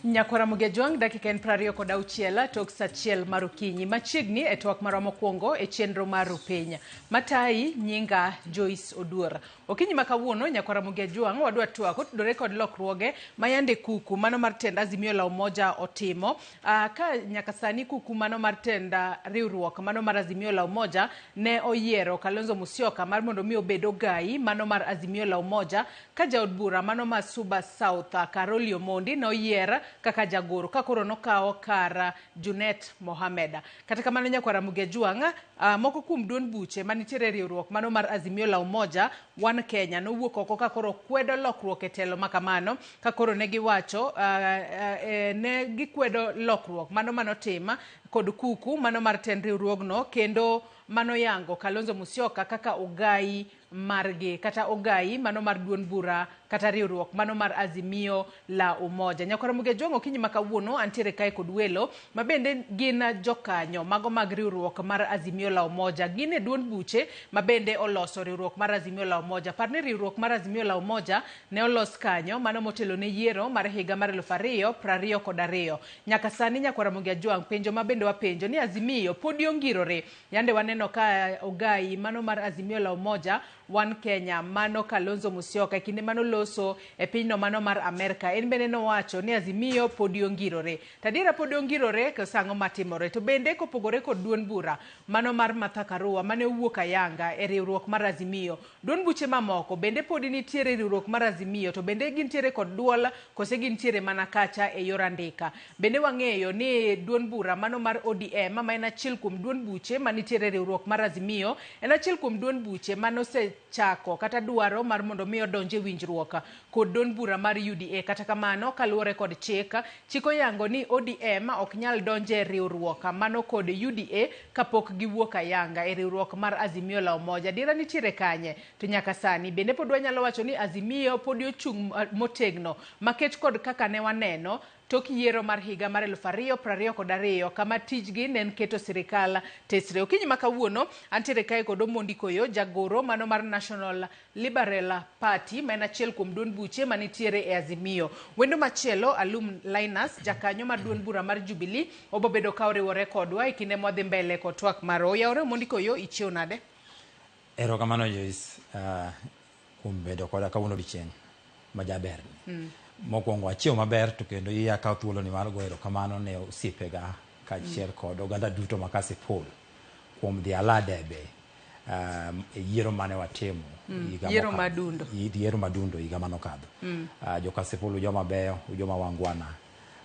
nyakwara mugejwang' dakika en prariyo kod auchiel tok sa achiel mar okinyi machiegni e twak marwa mokwongo e chenro mar rupiny matayi nyinga joyce oduor Okinyi ma kawuono Nyako Ramogi Ajwang' wadwa twak otudore kod lokruoge ma yande kuku mano mar tend Azimio la Umoja otimo. Uh, ka nyaka sani kuku mano mar tend uh, riwruok mano mar Azimio la Umoja ne oyiero Kalonzo Musyoka mar mondo mi obed ogayi mano mar Azimio la Umoja ka jaod bura mano ma Suba South uh, Karoli Omondi ne oyier kaka jagoro ka koro nokawo kar uh, Junet Mohamed. Kata kamano Nyako Ramogi Ajwang' Uh, moko kuom duond buche manitiere e riwruok mano mar Azimio la Umoja One Kenya nowuok oko ka koro kwedo lokruok e telo ma kamano ka koro ne giwacho uh, uh, eh, ne gikwedo lokruok mano manotim kod kuku mano mar tend riwruogno kendo mano yango Kalonzo Musyoka kaka ogayi margi kata ogayi mano mar duond bura kata riwruok mano mar azimio la umoja nyakora mugejong okinyi ma kawuono antiere kae kod welo ma bende gin jokanyo mago mag riwruok mar azimio la umoja gin e duond buche ma bende oloso riwruok mar azimio la umoja par ni riwruok mar azimio la umoja ne olos kanyo mano motelo ne yiero mar higa mar eluf ariyo prariyo kod ariyo nyaka sani nyakwara mugejwang penjo ma bende wapenjo ni azimio podi ongirore Yande waneno ka Ogayi, mano mar Azimio la Umoja, One Kenya, mano Kalonzo Musyoka, e kinde mano loso e pinyno mano mar Amerka, en bende nowacho ni Azimio podi ongirore. To adiera podi ongirore, koso ang'o matimore? To bende kopogore kod duond bura mano mar Martha Karua mane owuok ayanga e riwruok mar Azimio, Duond buche mamoko bende podi nitiere e riwruok mar Azimio to bende gintiere kod duol kose gintiere mana kacha e yor andika. Bende wang'eyo ni duond bura mano mar ODM ma en achiel kuom duond buche manitiere e riwruok mar Azimio en achiel kuom duond buche manosechako kata dwaro mar mondo mi odonj e winjruok kod dond bura mar UDA kata kamano kaluore kod chik, chik oyango ni ODM ok nyal donjo e riwruok mano kod UDA kapok giwuok ayanga e riwruok mar Azimio la Umoja. Adiera nitiere kanye to nyaka sani? Bende pod wanyalo wacho ni Azimio podi ochung' motegno makech kod kaka ne waneno tok yiero mar higa mar eluf ariyo prariyo kod ariyo kama tijgi ne en keto sirikal tesre. Okinyi ma kawuono antiere kae kod Omondi Koyo jagoro mano mar National Liberal Party ma en achiel kuom duond buche manitiere e Azimio. Wendo machielo Alum Linus jakanyo mar duond bura mar Jubilee obobedo ka oriwore kodwa e kinde mwadhi mbele kod twak marwa. Oyawore Omondi Koyo ichiew nade? Erokamano Joyce kuom bedo koda kawuono odiochieng' majaberni. Mokwongo achiew maber to kendo iyi akaw thuoloni mar goyo erokamano ne osiepega kachiel kod oganda duto ma Kasipul kuom dhi ala debe e yiero mane watimo higa mokadho. Yiero madundo higa mane okadho. Jo Kasipul ujoma beyo, ujoma wangwana.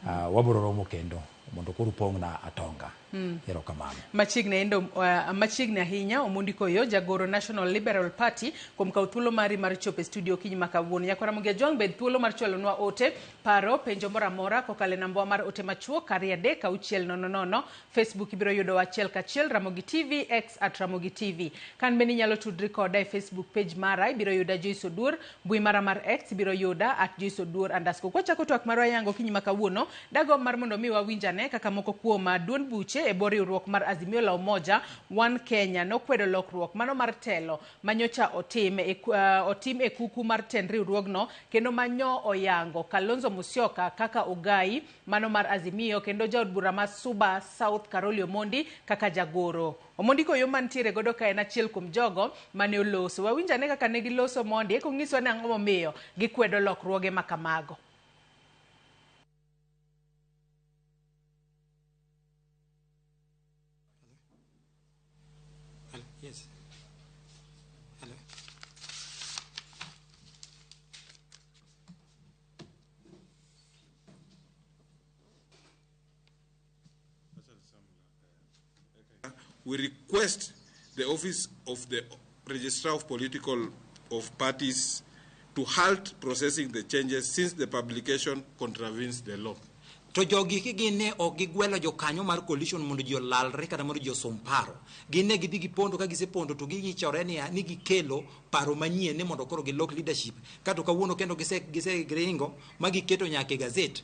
Uh, wabiro romo kendo mondo koro upong'na atonga mm. erokamano machiegni endo uh, machiegni ahinya omondi koyo jagoro national liberal party kuom kawo thuolo mari mar chopo e studio kiny ma kawuono nyakwara mugi ajwang' bed thuolo mar chwalonwa ote paro penjo moro amora kokalo e nambwa mar ote machuo kari adek auchiel nono nono facebook ibiro yudowa achiel kachiel ramogi tv x at ramogi tv kan bende inyalo tudri koda e facebook page mara ibiro yuda joiso duor Mbui mara mar X ibiro yuda at Joyce Oduor underscore. Kwachako twak marwa yango kinyi ma kawuono, dagomb mar mondo mi wawinj ane kaka moko kuom ah, duond buche e bwo riwruok mar Azimio la Umoja One Kenya nokwedo lokruok mano mar telo ma nyocha otim e, ku- ah, otim e kuku mar tend riwruogno kendo ma nyo oyango Kalonzo Musyoka kaka ogayi mano mar Azimio kendo jaod bura ma Suba South Karoli Omondi kaka jagoro. Omondi koyo mantiere godo ka en achiel kuom jogo mane oloso. Wawinj ane kaka ne giloso Omondi eka onyiswa ni ang'o momiyo gikwedo lokruoge ma kamago. We request the office of the Registrar of Political of Parties to halt processing the changes since the publication contravenes the law. to jogi ki gin ne ok gigwelo jokanyo mar coalition mondo ji olalre kata mondo ji osom paro gin ne gidhi gipondo ka gisepondo to giyichore niya ni gikelo paro manyien ni mondo koro gilok leadership kato kawuono kendo gise gise gringo ma giketo nyaka e gazet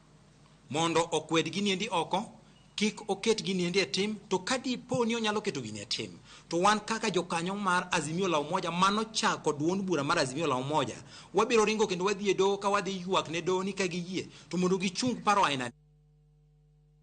mondo okwed giniendi oko, kik oket giniendi e tim, to ka dipo ni onyalo keto gini e tim, to wan kaka jokanyo mar Azimio la Umoja manochako duond bura mar Azimio la Umoja, wabiro ringo kendo wadhi e doho ka wadhi ywak ne doho ni ka giyie to mondo gichung paro aina ni.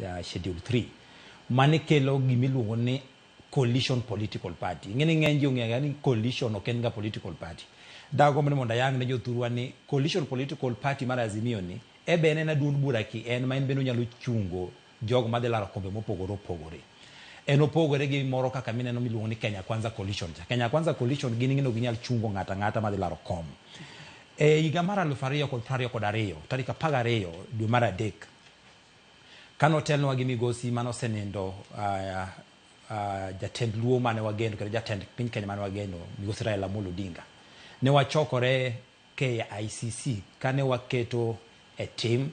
ya schedule 3 mane kelo gima iluongo ni coalition political party ing'e ni ng'eny ji ong'eyo ni coalition ok en ga political party dagomb ni mondo ayang ne jothurwa ni coalition political party mar azimio ni ebe en en aduond bura ki en ma en bende onyalo chungo jogo madhi laro kombe mopogore opogore en opogore gi moro kaka mineno miluongo ni kenya kwanza coalition cha kenya kwanza coalition gin ing'e ni ok ginyal chungo ng'ato ang'ata madhi laro kom e higa mar aluf ariyo kod piero ariyo kod ariyo tarik apar gariyo dwe mar adek Ka notelnwa gi migosi mane osenindo jatend luo mane wageno kendo jatend piny Kenya mane wageno migosi Raila Amolo Odinga, ne wachokore KICC kane waketo e tim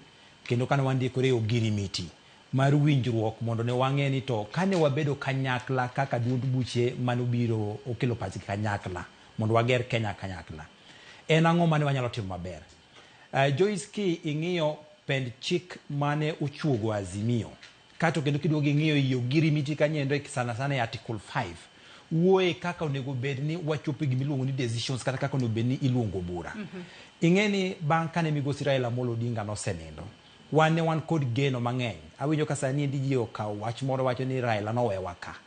kendo kane wandikore e ogirimiti mar winjruok mondo ne wang'e ni to kane wabedo kanyakla kaka duond buche mane obiro okelo pachgi kanyakla mondo wager Kenya kanyakla, en ang'o mane wanyalo timo maber. Uh, Joyce ki ing'iyo pend chik mane ochuogo Azimio kato kendo kiduogo ing'iyo i ogirimiti kanyo endo e sana sana e Article 5 wuoye kaka onego bed ni wachopo e gima iluongo ni decisions kata kaka onego bed ni iluongo bura. Ing'e ni bang' kane migosi Raila Amolo Odinga nosenindo wan ne wan kod geno mang'eny. Awinjo ka sani endi ji okawo wach moro wacho ni Raila nowewa ka.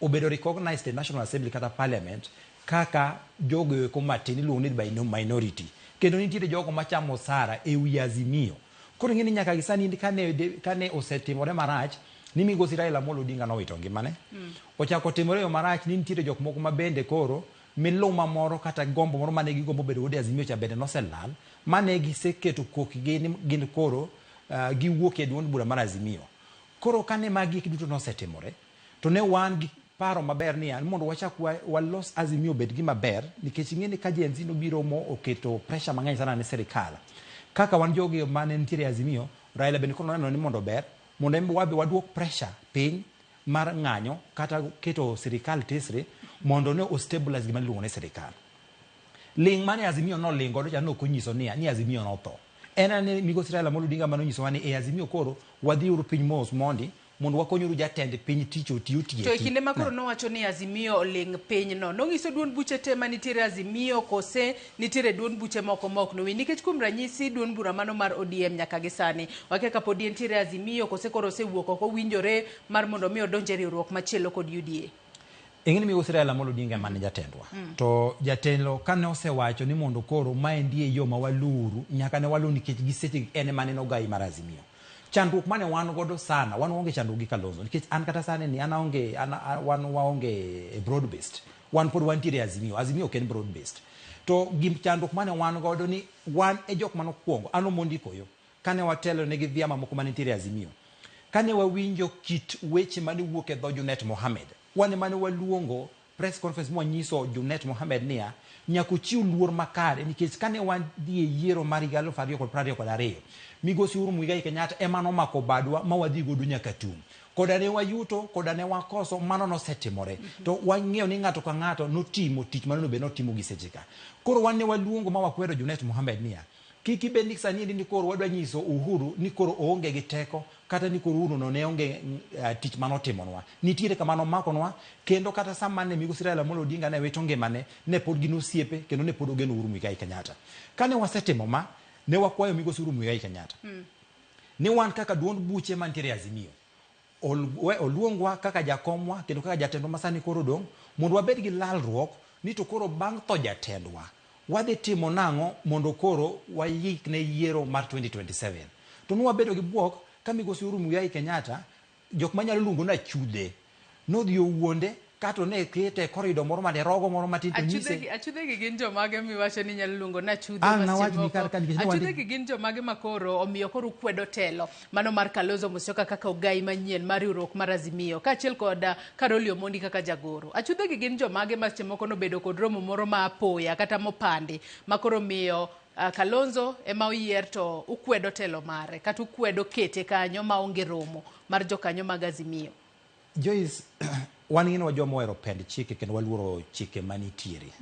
Obedo recognized e National Assembly kata Parliament kaka jogo eko matin iluongo ni by minority. Kendo nitiere jogo machamo osara e wi Azimio. Koro ing'e ni nyaka gi sani kane, kane osetimore marach ni migosi Raila Amolo Odinga nowito ngimane. Mm. Ochako timore yo marach ni nitiere jok moko ma bende koro miluma moro kata gombo moro mane gigombo bedo godo e Azimio cha bende noselal mane giseketo kokgi ni gin koro uh, giwuok e duond bura mar Azimio. Koro kane magi duto nosetimore To ne wan gi paro maber ni an mondo wachak wa, walos Azimio obed gima ber nikech ing'e ni ka Gen Z nobiro mo oketo pressure mang'eny sana ne sirikal. Kaka wan jogi mane nitiere Azimio, Raila bende koro noneno ni mondo ber mondo en be wabe waduok pressure piny mar ng'anyo kata keto sirikal tesre mondo ne ostabilize gima niluongo ni sirikal. Ling' mane Azimio noling godo cha ne ok onyiso ni, ni Azimio notho. En ane Migosi Raila Amolo Odinga mane onyisowa ni e Azimio koro wadhiuru piny mos mondi mondo wakonyuru jatend piny tich oti otieki. To e kinde ma koro nowacho ni Azimio oling pinyno, nonyiso duond buche te ma nitiere Azimio kose nitiere duond buche moko ma ok nowinj? Nikech kuom ranyisi duond bura mano mar ODM nyaka gi sani wakia ka podi entiere Azimio kose koro osewuok oko owinjore mar mondo mi odonj e riwruok machielo kod UDA. Ing'eni migosi Raila Amolo Odinga ema ne jatendwa. Mm. To jatelo kane osewacho ni mondo koro maendi e yo ma waluuru nyaka ne waluw nikech gi seche en ema ne en ogayi mar Azimio. Chandruok mane wan godo sana, wan waonge chandruok gi Kalonzo nikech an kata sani ni an aonge an, a- wan waonge broad based. Wan pod wantiere Azimio. Azimio ok en broad based. To gim chandruok mane wan godo ni wan e jok mane okwongo, an Omondi Koyo, kane watelo ne gi vyama moko mane nitiere Azimio. Kane wawinjo kit weche mane wuok e dho Junet Mohammed, wan emane waluongo Press Conference mwanyiso Junet Mohammed niya, Nyaka uchiw luor makare nikech kane wadhi e yiero mar higa aluf ariyo kod prariyo kod ariyo, Migosi Uhuru Muigai Kenyatta ema nomako badwa ma wadhi godo nyaka tung'. Koda ne wayuto, koda ne wakoso, mano nosetimore. To wang'eyo ni ng'ato ka ng'ato notimo tich ma nonego bed ni otimo gi secheka. Koro wan ne waluongo ma wakwero Junet Mohammed niya, Kik ibed ni sani endi ni koro wadwa nyiso Uhuru ni koro oonge gi teko kata ni koro Uhuru no ne onge uh, tich mane otimonwa. Nitiere kama nomakonwa kendo kata sama ne Migosi Raila Amolo Odinga ne wito ngimane ne pod gin osiepe kendo ne pod ogeno Uhuru Muigai Kenyatta. Kane wasetimo ma ne wakwayo Migosi Uhuru Muigai Kenyatta mm. ni wan kaka duond buche mantiere Azimio Ol-we oluongwa kaka jakomwa kendo kaka jatendwa ma sani koro odong' mondo wabed gi lalruok ni to koro bang' tho jatendwa, wadhi timo nang'o mondo koro wayik ne yiero mar 2027. To nwa bedo gi bwok ka Migosi Uhuru Muigai Kenyatta, jok ma nyalo luongo ni achudhe, nodhi owuonde Kato ne kete e korido moro mane rogo moro matin to nyise. Achudhegi, achudhegi gin jomage miwacho ni nyalo luongo na chudhe Ang' nawach ni kar ka nikech ne wandi- Achudhegi gin jomage ma koro omiyo koro ukwedo telo mano mar Kalonzo Musyoka kaka ogai manyien mar riwruok mar Azimio kaachiel kod ah, Karoli Omondi kaka jagoro. Achudhegi gin jomage ma seche moko nobedo kod romo moro ma apoya kata mopandi ma koro miyo ah, Kalonzo ema oyier to ukwedo telo mare kata ukwedo kete kanyo ma onge romo mar jokanyo mag Azimio. Joyce, wan ing'eni wa joma ohero pend chike kendo waluoro chike manitiere.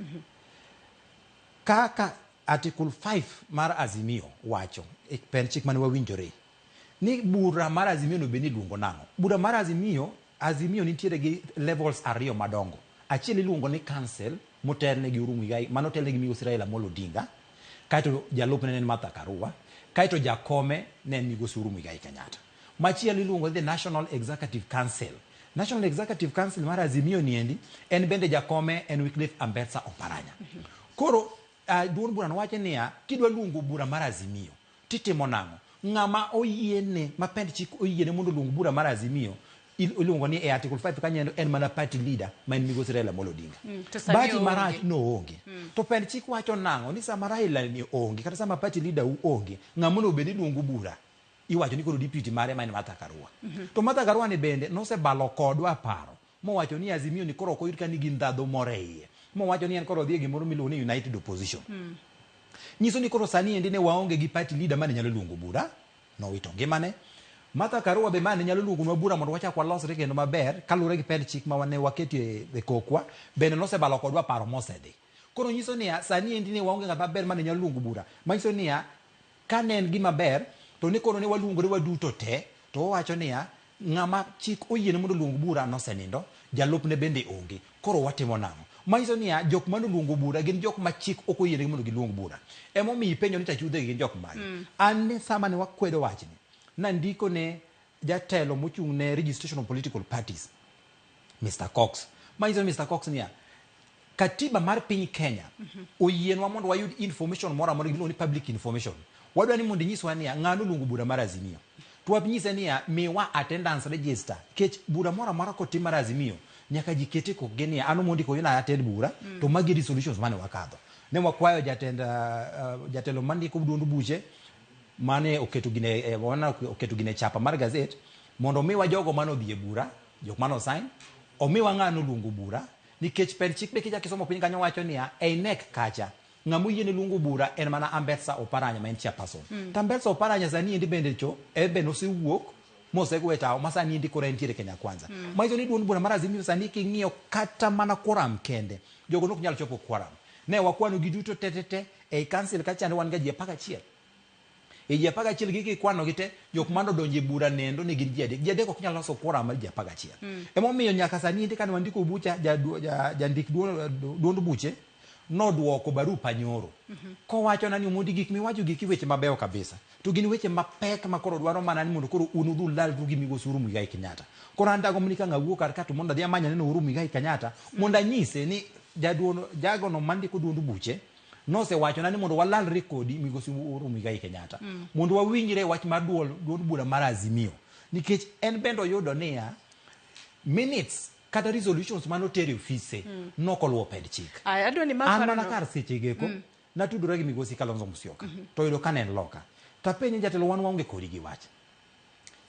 Kaka Article 5 mar Azimio wacho e pend chik mane wawinjore ni bura mar Azimio no bed ni iluongo nang'o? Bura mar Azimio, Azimio nitiere gi levels ariyo madongo. Achiel iluongo ni council motelne gi Uhuru Muigai, mano otelne gi Migosi Raila Amolo Odinga, kaeto jalupne ne en Martha Karua, kaeto jakome ne en Migosi Uhuru Muigai Kenyatta. Machielo iluongo ni the National Executive Council. National Executive Council mar Azimio niendi en bende jakome en Wycliffe Ambetsa Oparanya. Koro uh, duond burano wacho niya kidwa luongo bura mar Azimio titimo nang'o? Ng'ama oyiene ma pend chik oyiene mondo oluong bura mar Azimio il- iluongo ni e article 5 kanyo en mana party leader ma en migosi Raila Amolo Odinga. Mm, to sani Bahati onge. marach noonge to pend chik wacho nang'o ni sama Raila ni onge kata sama party leader u onge ng'ama onego bed ni luongo bura Iwacho ni koro deputy mare ma en Martha Karua. To Martha Karua ni bende nosebalo kodwa paro mowacho ni Azimio ni koro ok oyud ka nigi ndhadhu moro e iye. Mowacho ni en koro odhi e gimoro miluongo ni United Opposition. Nyiso ni koro sani endi ne waonge gi party leader mane nyalo luongo bura, nowito ngimane. Martha Karua be mane nyalo luongonwa bura mondo wachak walosre kendo maber kaluwore gi pend chik ma ne waketo e e kokwa bende nosebalo kodwa paro mosedhi. Koro nyiso niya, sani endi ne waonge ng'at maber mane nyalo luongo bura. Manyiso niya, Ka ne en gima ber, to ne koro ne waluongore waduto te, to wawacho niya, Ng'ama chik oyiene mondo oluong bura nosenindo, jalupne bende onge. Koro watimo nang'o? Ma nyiso niya, jok ma noluongo bura gin jok ma chik ok oyienegi mondo giluong bura. E momiyo ipenjo ni to achudhegi gin jok mage? An sama ne wakwedo wachni, nandiko ne jatelo mochung' ne registration of political parties Mr. Cox manyiso Mr. Cox niya katiba mar piny Kenya oyienwa mondo wayud information moro amora giluongo ni public information wadwa ni mondo inyiswa niya ng'ano luongo bura mar Azimio to wanyise niya miwa attendance register kech bura moro amora kotim mar Azimio nyaka ji kete kokgi niya ano mondi koyo na attend bura to magi resolutions mane wakadho ne wakwayo jatend uh, uh, jatelo mandiko duond buche mane oketo gine eh, wana- oketo gine chapa mar gazet mondo omiwa jogo mane odhi e bura jok mane osain omiwa ng'a noluongo bura nikech per chik be kichak isomo piny kanyo wacho niya e inek kacha ng'ama oyiene luongo bura en mana ambetsa oparanya ma en chairperson Mm. to ambetsa oparanya sani endi bende cho en bende osewuok mosego e tawo ma sani endi koro entiere kenya kwanza Mm. ma iso ni duond bura mar azimio sani king'iyo kata mana quorum kende jogo nok nyal chopo quorum ne wakwano gi duto tetete Ei kansil ka chande wan ga ji apar gachiel. E ji apar gachiel gi kikwanogi te, jok mane odonjo e bura nendo ne gin ji adek. Ji adek ok nyal loso quorum mar ji apar gachiel. Emomiyo nyaka sani endi kane wandiko bucha, ja- du- ja- jandik duo- du- duond buche nodwoko barupa nyoro kowachona ni Omondi gik miwacho giki weche mabeyo kabisa. To gin weche mapek ma koro dwaro mana ni mondo koro un udhi ulalru gi Migosi Uhuru Muigai Kenyatta. Koro an dagomb ni ka ng'awu kar ka to mondo adhi amany aneno Uhuru Muigai Kenyatta mondo anyise ni jaduono jagono mandiko duond buche nosewachona ni mondo walalre kodi Migosi Uhuru Muigai Kenyatta mm. mondo wawinjre wach mar duol duond bura mar Azimio nikech en bende oyudo niya minutes kata resolutions mane otere ofise mm. nokoluwo ped chik an mana kar sechegeko mm. Natudora gi Migosi Kalonzo Musyoka mhm. to oyudo ka ne en loka. To apenje jatelo wan waonge kodi gi wach.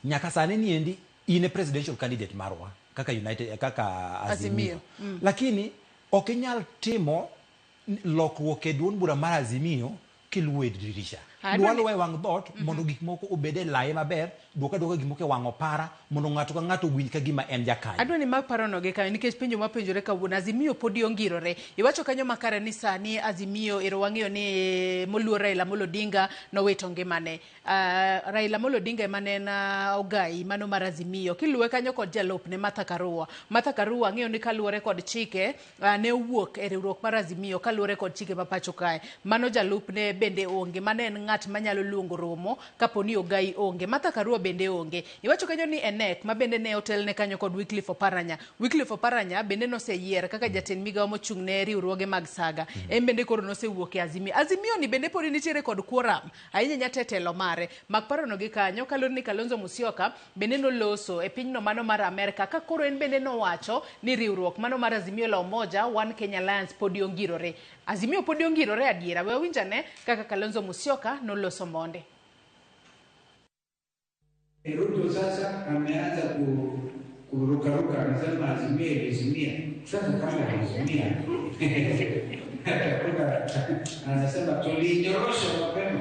Nyaka sani ni endi in e presidential candidate marwa kaka United eh, kaka Azimio. Mm. Lakini ok inyal timo lokruok e duond bura mar Azimio kiluwo e dirisha. Dwalo e wang' dhoot mhm. mondo gik moko obed e laye maber Dwok adwoka gik moko e wang' opara mondo ng'ato ka ng'ato owinj ka gima en jakanyo. Adwa ni mak parono gi kanyo nikech penjo mwapenjore kawuono, Azimio podi ongirore. Iwacho kanyo makare ni sani Azimio ero wang'eyo ni moluor Raila Amolo Odinga nowito ngimane. Uh, Raila Amolo Odinga ema ne en uh, ogayi mano mar Azimio. Kiluwe kanyo kod jalupne Martha Karua. Martha Karua ang'eyo ni kaluwore kod chike uh, ne owuok e riwruok mar Azimio kaluwore kod chike ma pacho kae. Mano jalupne bende onge, mano en ng'at manyalo luongo romo kapo ni Ogai onge. Martha Karua bende onge. Iwacho kanyo ni Enek ma bende ne otelne kanyo kod Wycliffe Oparanya. Wycliffe Oparanya bende noseyier kaka jatend migawo mochung' ne riwruoge mag saga. En bende koro nosewuok e Azimio. Azimio ni bende podi nitiere kod quorum ahinya nyate telo mare. Mak parono gi kanyo kaluwore ni Kalonzo Musyoka bende noloso e pinyno mano mar Amerka ka koro en bende nowacho ni riwruok mano mar Azimio la Umoja One Kenya Alliance podi ongirore. Azimio podi ongirore adiera. We wawinj ane kaka Kalonzo Musyoka noloso monde. Ruto sasa ameanza ku, kurukaruka, anasema azimia ilizimia. Sasa kama ilizimia atakuta anasema tulinyorosha mapema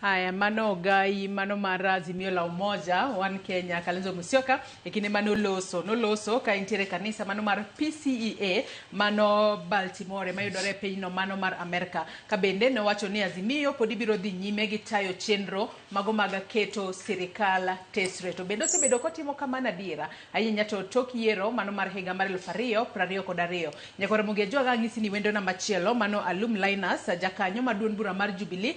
Haya, mano ogai mano mar Azimio la Umoja One Kenya Kalonzo Musyoka e kinde mane oloso noloso ka entiere e kanisa mano mar PCEA mano Baltimore mayudore e pinyno mano mar Amerka ka bende nowacho ni Azimio pod ibiro dhi nyime gi tayo chenro mago mag keto sirikal tesre to bende osebedo kotimo kamano adiera ahinya to tok yiero mano mar higa mar elfu ariyo piero ariyo kod ariyo nyakore Mugi Ajwaga ang'isi ni wendo namba chielo mano Alum Linus jakanyo mar duond bura mar Jubilee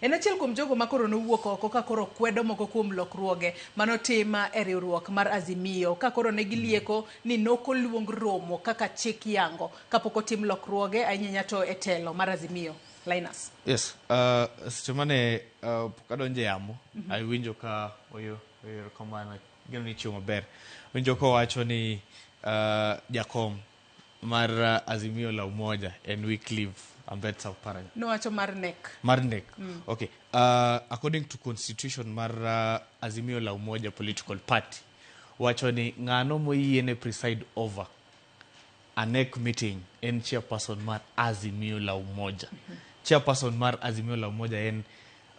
En achiel kuom jogo ma koro nowuok oko ka koro kwedo moko kuom lokruoge ma notim e riwruok mar Azimio ka koro ne gilieko ni nok oluong romo kaka chik yango kapok otim lokruoge ahinya ahinya to e telo mar Azimio. Linus. Yes, uh, seche mane uh, pok adonjo e yamo, awinjo ka oyo oyo kamano geno ni chiwo maber. Winjo kowacho ni uh, jakom mar uh, azimio la umoja and Wycliffe ambet south paranya Nowacho mar nek. mar nek okay uh, according to constitution mar uh, azimio la umoja political party wacho ni ng'ano moyiene preside over a NEC meeting en chairperson mar azimio la umoja chairperson mar azimio la umoja en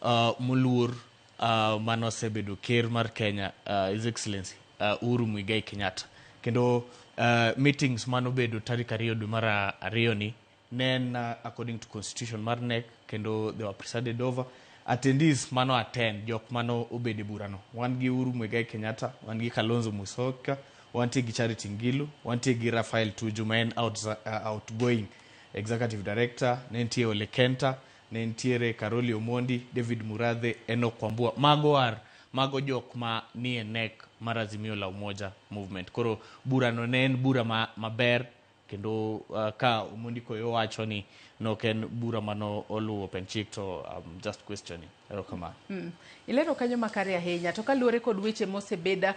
uh, moluor uh, mane osebedo ker mar Kenya uh, His Excellency uh, Uhuru Muigai Kenyatta kendo uh, meetings mane obedo tarik ariyo dwe mar ariyo ni ne en uh, according to constitution mar NEC kendo they were presided over attendees mano attend jok mano obedo e burano wan gi Uhuru Muigai Kenyatta wan gi Kalonzo Musyoka wantie gi Charity Ngilu wantie gi Raphael Tuju ma en out, uh, outgoing executive director ne nitie Ole Kenta Ne nitiere Karoli Omondi, David Murathe, Enock Wambua, mago are mago jok ma nie NEC mar Azimio la Umoja Movement. Koro bura no ne en bura ma, maber kendo uh, ka Omondi Koyo wacho ni nok en bura mano oluwo Open Chick to I'm just questioning. Erokamano. Mm. Ilero kanyo makare ahinya to kaluwore kod weche mosebed uh,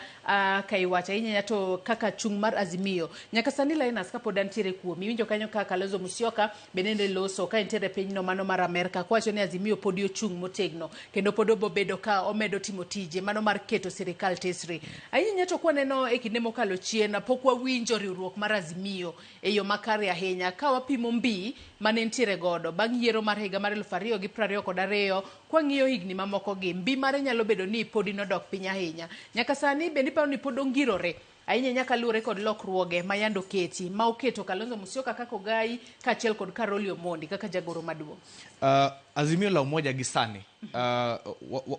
ka iwacho ahinya ahinya to kaka chung' mar Azimio nyaka sani Linus kapod antiere kuomi iwinjo kanyo ka Kalonzo Musyoka bende ne loso ka entiere e pinyno mano mar Amerka kowacho ni Azimio podi ochung' motegno kendo pod obobedo ka omedo timo tije mano mar keto sirikal tesri ahinya ahinya to kwaneno e kinde mokalo chien pok wawinjo riwruok mar Azimio e yo makare ahinya ka wapimo mbi mane ntiere godo bang' yiero mar higa mar eluf ariyo gi prariyo kod ariyo Kwang'iyo higni mamokogi, mbi mare nyalo bedo ni podi nodok piny ahinya. Nyaka sani, bende iparo ni pod ongirore? Ahinya ahinya kaluwore kod lokruoge ma yande oketi, ma oketo Kalonzo Musyoka kaka ogayi, kaachiel kod Karoli Omondi kaka jagoro maduong'. Uh, Azimio la Umoja gi sani, uh,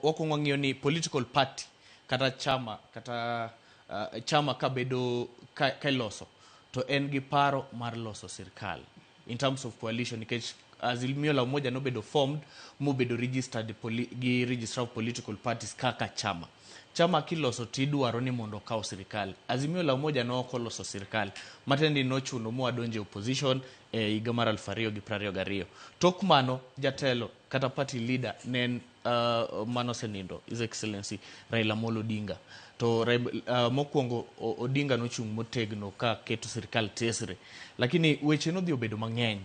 wakwong wang'iyo ni political party kata chama kata uh, chama kabedo ka, ka iloso to en gi paro mar loso sirkal. in terms of coalition nikech azimio la umoja nobedo formed mobedo registered poli, gi registrar of political parties kaka chama chama kiloso tidwaro ni mondo okaw sirikal azimio la umoja ne ok oloso sirikal matiende ni nochuno moa donje opposition e higa mar aluf ariyo gi prariyo gariyo tok mano jatelo kata party leader ne en uh, mano osenindo His Excellency Raila Amolo Odinga to uh, mokwongo Odinga nochung' motegno ka keto sirikal tesre, lakini weche nodhi obedo mang'eny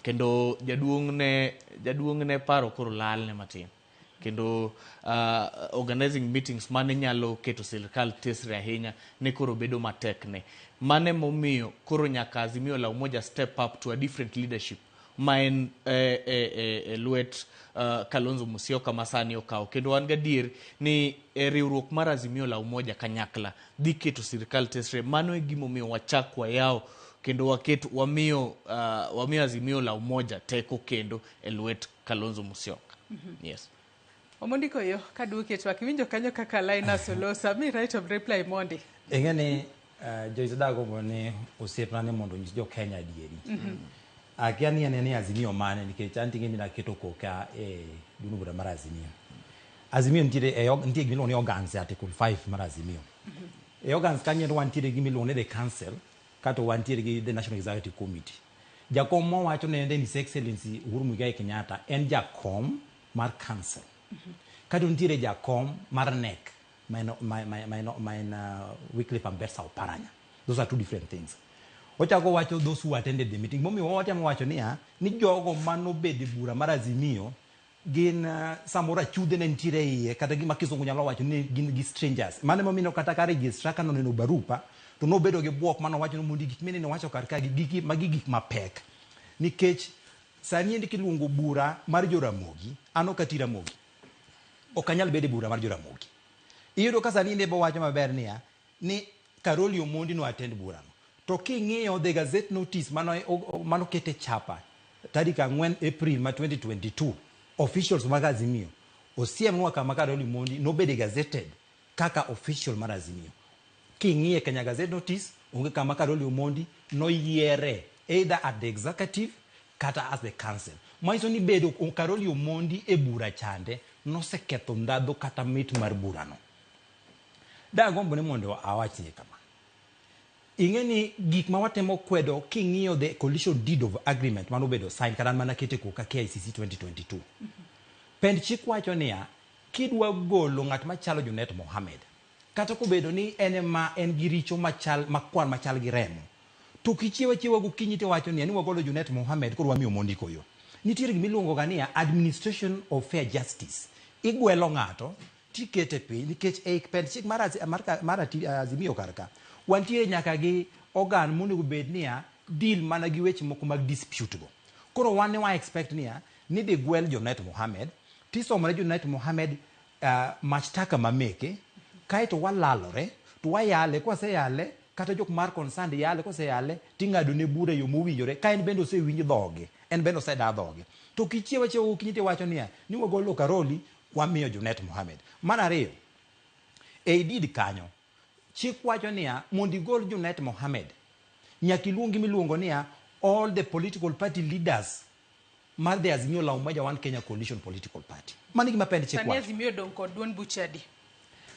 kendo jaduong' ne jaduong' ne paro koro lal ne matin kendo uh, organizing meetings mane nyalo keto sirikal tesre ahinya ne koro bedo matek ne mane momiyo koro nyaka Azimio la Umoja step up to a different leadership ma en e, e, e, e lwet uh, Kalonzo Musyoka ma sani okawo kendo wan gadier ni e, riwruok mar Azimio la Umoja kanyakla dhi keto sirkal tesre. Mano e gimomiyo wachak wayawo kendo waket wamiyo uh, wamiyo Azimio la Umoja teko kendo e lwet Kalonzo Musyoka. Mm -hmm. Yes. Omondi Koyo, kaduoki e twak, iwinjo kanyo kaka Linus olosa, mi right of reply mondi. Ing'e ni uh, Joyce Dago ni osiepna ni mondo onyis jo-Kenya adieri. Mm -hmm. Akia ni ane ni Azimio mane nikech an ting'e ni naketo koka e duno bura mar Azimio. Azimio nitiere e nitie gima iluongo ni organs e Article 5 mar Azimio. Mm -hmm. E organs kanyo endo wantiere gi miluongo ni the council kato wantiere gi the National Executive Committee. Jakom mowacho ne His Excellency Uhuru Muigai Kenyatta en jakom mar council kato nitiere jakom mar nek ma en- ma- ma- ma en- ma en uh, Wycliffe Ambetsa Oparanya those are two different things ochako wacho those who attended the meeting momiyo watemo wacho niya ni jogo manobed e bura mar azimio gin uh, samoro achudhe ne nitiere e iye kata gima kisungu nyalo wacho ni gin gi strangers mano emomiyo kata ka registra ka noneno barupa to nobedo gi bwok manowacho ni mondi gik minene wacho kar ka gi gigi magi gik mapek nikech Sani endi kiluongo bura mar jo Ramogi, an ok ati Ramogi. Ok anyal bedo e bura mar jo Ramogi. Iyudo ka sani endi bowacho maber niya, ni Karoli Omondi no attend burano. To king'iyo the gazette notice mano mano kete chapa tarik ang'wen April ma 2022, officials mag Azimio osiemnwa kama Karoli Omondi nobede gazetted Kaka official mar Azimio, king'iyo e Kenya Gazette Notice, onge kama Karoli Omondi noyiere either at the executive kata as the council. Manyiso ni bedo Karoli Omondi e bura chande noseketho ndhadhu kata mit mar burano. Dagombo ni mondo awachni kama. Ing'e ni gik ma watemo kwedo king'iyo the coalition deed of agreement manobedo sign kata an mana kete koka KICC 2022. Pend chik wacho niya, Kidwa golo ng'at machalo Junet Mohamed, kata kobedo ni en ema en gi richo machal makwar machal gi remo, to ok ichiew achiewa gokinyi tiwacho niya ni wagolo Junet Mohamed koro wamiyo mondi koyo. Nitiere gima iluongo ga niya administration of fair justice. Igwelo ng'ato tikete piny nikech ei pend chik mar mar Azimio kar ka, wantiere nyaka gi organ monego bed niya deal mana gi weche moko mag dispute go. Koro wan ne wa expect niya nidhi gwel Junet Mohamed, Tisomone Junet Mohamed mashtaka ma meke, kaeto walalore to wayale, kwaseyale kata jok mar concerned yale, koseyale ting'adone bura e yo mowinjore ka en bende osewinj dhoge, en bende oseda dhoge. To ok ichiew achiewa gokinyi tiwacho niya, ni wagolo Karoli wamiyo Junet Mohamed. Mar ariyo, ei deed kanyo, Chik wacho niya mondo igol Junet Mohamed, nyaka iluong gimiluongo niya all the political party leaders mar the Azimio la Umoja One Kenya Coalition Political Party. Mano gima pend chik wacho. Sani Azimio dong kod duond buche adi?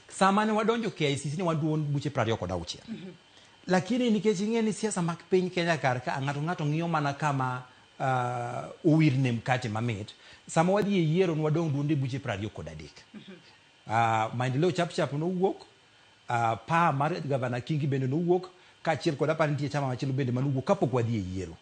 Sama ne wadonjo KICC ne wan duond buche 26. kod auchiel. Mm -hmm. Lakini nikech ing'e ni siasa mag piny Kenya kar ka ng'ato ng'ato ng'iyo mana kama uh, owirne mkate mamit, sama wadhi e yiero ne wadong' duonde buche 23. Mm -hmm. Uh, maendeleo chapchap nowuok uh, pa mar gavana Kingi bende nowuok kaachiel kod apar nitie chama machielo bende manowuok kapok wadhi e yiero.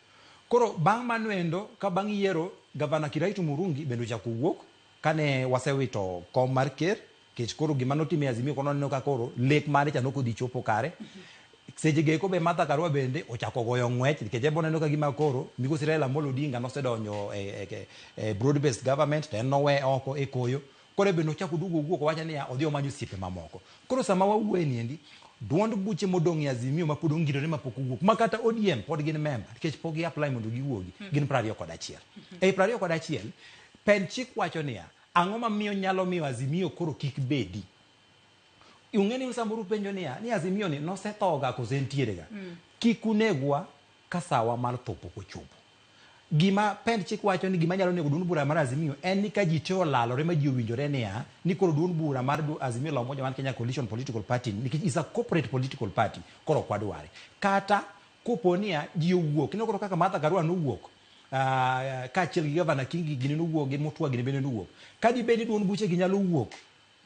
Koro bang' mano endo ka bang' yiero gavana Kiraitu Murungi bende ochako wuok kane wasewito kom mar ker kech koro gima notime Azimio kono neno ka koro lek mare cha nokodhi chopo kare. Seche geko be Martha Karua bende ochako goyo ng'wech nikech ebo neno ka gima koro migosi Raila Amolo Odinga nosedonjo e, e, e broad based government to en nowe oko e koyo Koro be nochako oduogo owuok owacho niya odhi omany osiepe mamoko. Koro sama wawuoye niendi, duond buche modong' e Azimio ma pod ongirore ma pok owuok, ma kata ODM pod gin member nikech pok gi apply mondo giwuogi, hmm. gin prariyo kod achiel. Hmm. Ei prariyo kod achiel, pen chik wacho niya, ang'o ma miyo nyalo miyo Azimio koro kik bedi? Ung'e ni samoro upenjo niya, ni Azimio ni nosethoga kose entiere ga? Hmm. Kik unegwa, Ka sawa mar tho pok ochopo. Gima pend chik wacho ni gima nyalo nego duond bura mar Azimio en ni ka ji te olalore ma ji owinjore niya ni koro duond bura mar du- Azimio la Umoja One Kenya Coalition Political Party ni, nikech is a corporate political party koro ok wadware. Kata kopo niya ji owuok ineno koro kaka Martha Karua nowuok ah, kaachiel gi Gavana Kingi gini nowuok gi Mutua gini bende nowuok. Ka dibed ni duond buchegi nyalo wuok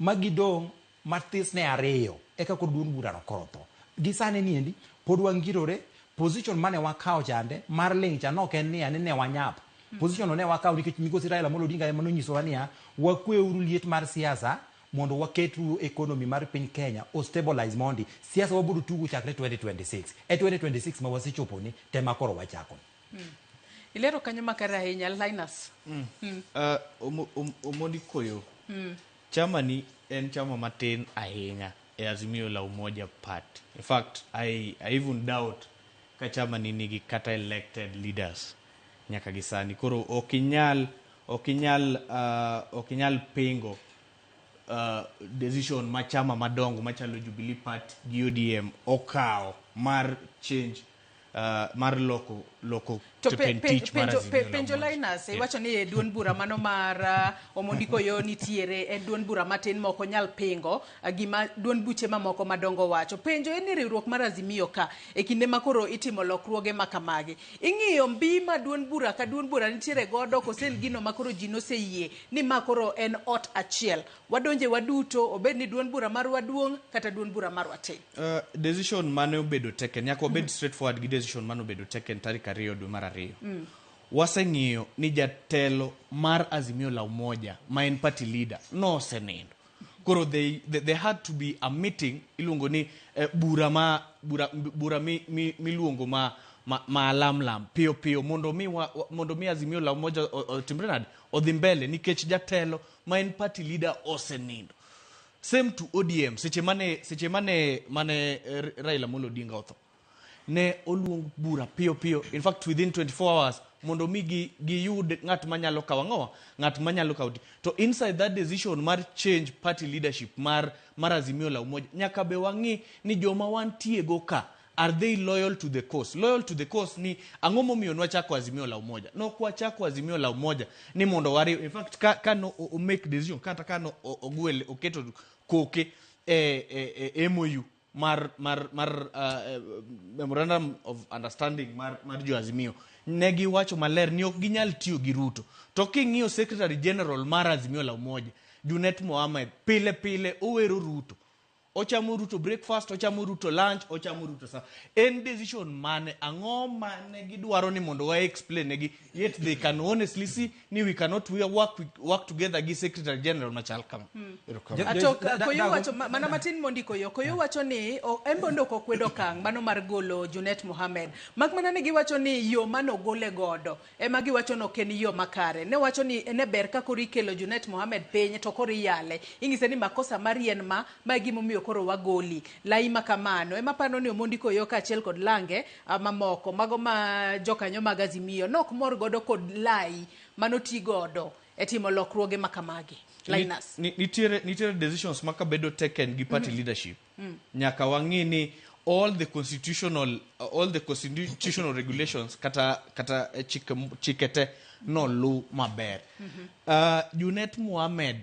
ma gidong' Mathis ne ariyo eka koro duond burano koro otho. Gi sani ni endi pod wangirore, position mane wakawo chande mar ling' cha nok en niya ni ne wanyap. Position no ne wakawo nikech migosi Raila Amolo Odinga ema nonyisowa niya wakwe uru liet mar siasa mondo waket uru economy mar piny Kenya o stabilize mondi. Siasa wabiro tugo chakre 2026. E 2026 ma wasechoponi te ma koro wachakoni. Ilero kanyo makare ahinya. Linus. Mm. Uh, omo, om, omoni koyo. Mm. Chama ni en chama matin ahinya e Azimio la Umoja Party. In fact, I, I even doubt ka chama ni nigi kata elected leaders nyaka gi sani. Koro ok inyal ok inyal uh, ok inyal pingo uh, decision ma chama madongo machalo Jubilee Party gi ODM okawo mar change uh, mar loko loko To pe- pe- tich mar penjo- Azimio pe- la penjo Umoja. Linus Eh. iwacho ni e duond bura mano mar ah, Omondi Koyo nitiere e duond bura matin ma ok onyal pingo ah, gima duond buche mamoko madongo wacho. Penjo en ni riwruok mar Azimio ka e kinde ma koro itimo lokruoge ma kamagi. Ing'iyo mbi ma duond bura ka duond bura nitiere godo kose en gino ma koro ji noseyie ni ma koro en ot achiel. Wadonje waduto obed ni duond bura marwa duong' kata duond bura marwa tin. Uh, decision mane obedo taken nyaka wabed mm. straightforward gi decision mane obedo taken tarik ariyo dwe mar ariyo mm. waseng'iyo ni jatelo mar azimio la umoja ma en party leader nosenindo koro they, they, they had to be a meeting iluongo ni eh, bura ma bura, bura mi, mi, miluongo ma maalamlam ma piyo piyo mondo mi, wa, mondo mi azimio la umoja otimre nade odhi mbele nikech jatelo ma en party leader osenindo same to odm seche mane seche mane mane eh, raila molo odinga otho ne oluong bura piyo piyo in fact within 24 hours mondo mi gi giyud ng'at manyalo kawo ang'owa ng'at manyalo kawo di- to inside that decision mar change party leadership mar mar azimio la umoja nyaka be wang'i ni joma wantiego ka Are they loyal to the cause? Loyal to the cause ni ang'o momiyo nwachako Azimio la Umoja? Nok wachako Azimio la Umoja ni mondo wariw. In fact, ka, ka no o- o make decision kata ka no o- ogwel oketo koke e, e, e MOU mar mar mar uh, eh, memorandum of understanding mar mar jo Azimio ne giwacho maler ni ok ginyal tiyo gi Ruto. To king'iyo Secretary General mar Azimio la Umoja Junet Mohamed pile pile owero Ruto ochamo ruto breakfast ochamo ruto lunch ochamo ruto sa en decision mane ang'o mane gidwaro ni mondo wa explain negi yet they can honestly see ni we cannot we work, with- work together gi secretary general machal kama Erokamano. Ato Da- da- koyo dago- wacho ma- mana matin mondi koyo koyo wacho ni o- en bondo ok okwedo okang' mano mar golo Junet Mohamed mak mana ni giwacho ni yo mane ogole godo ema giwacho ni ok en yo makare. Ne wacho ni ne ber ka koro ikelo Junet Mohamed piny to koro iyale. Inyise ni makosa mari en ma, ma e gimomiyo koro wagoli. Layi ma kamano ema aparo ni Omondi Koyo kaachiel kod lange mamoko mago ma jokanyo mag Azimio nok mor godo kod layi manoti godo e timo lokruoge ma kamagi. Linus. Ni- ni- nitiere nitiere decisions ma kabedo taken gi party leadership nyaka wang'i ni all the constitutional all the constitutional regulations kata kata eh, chike chike te noluw maber Ah, Junet Mohamed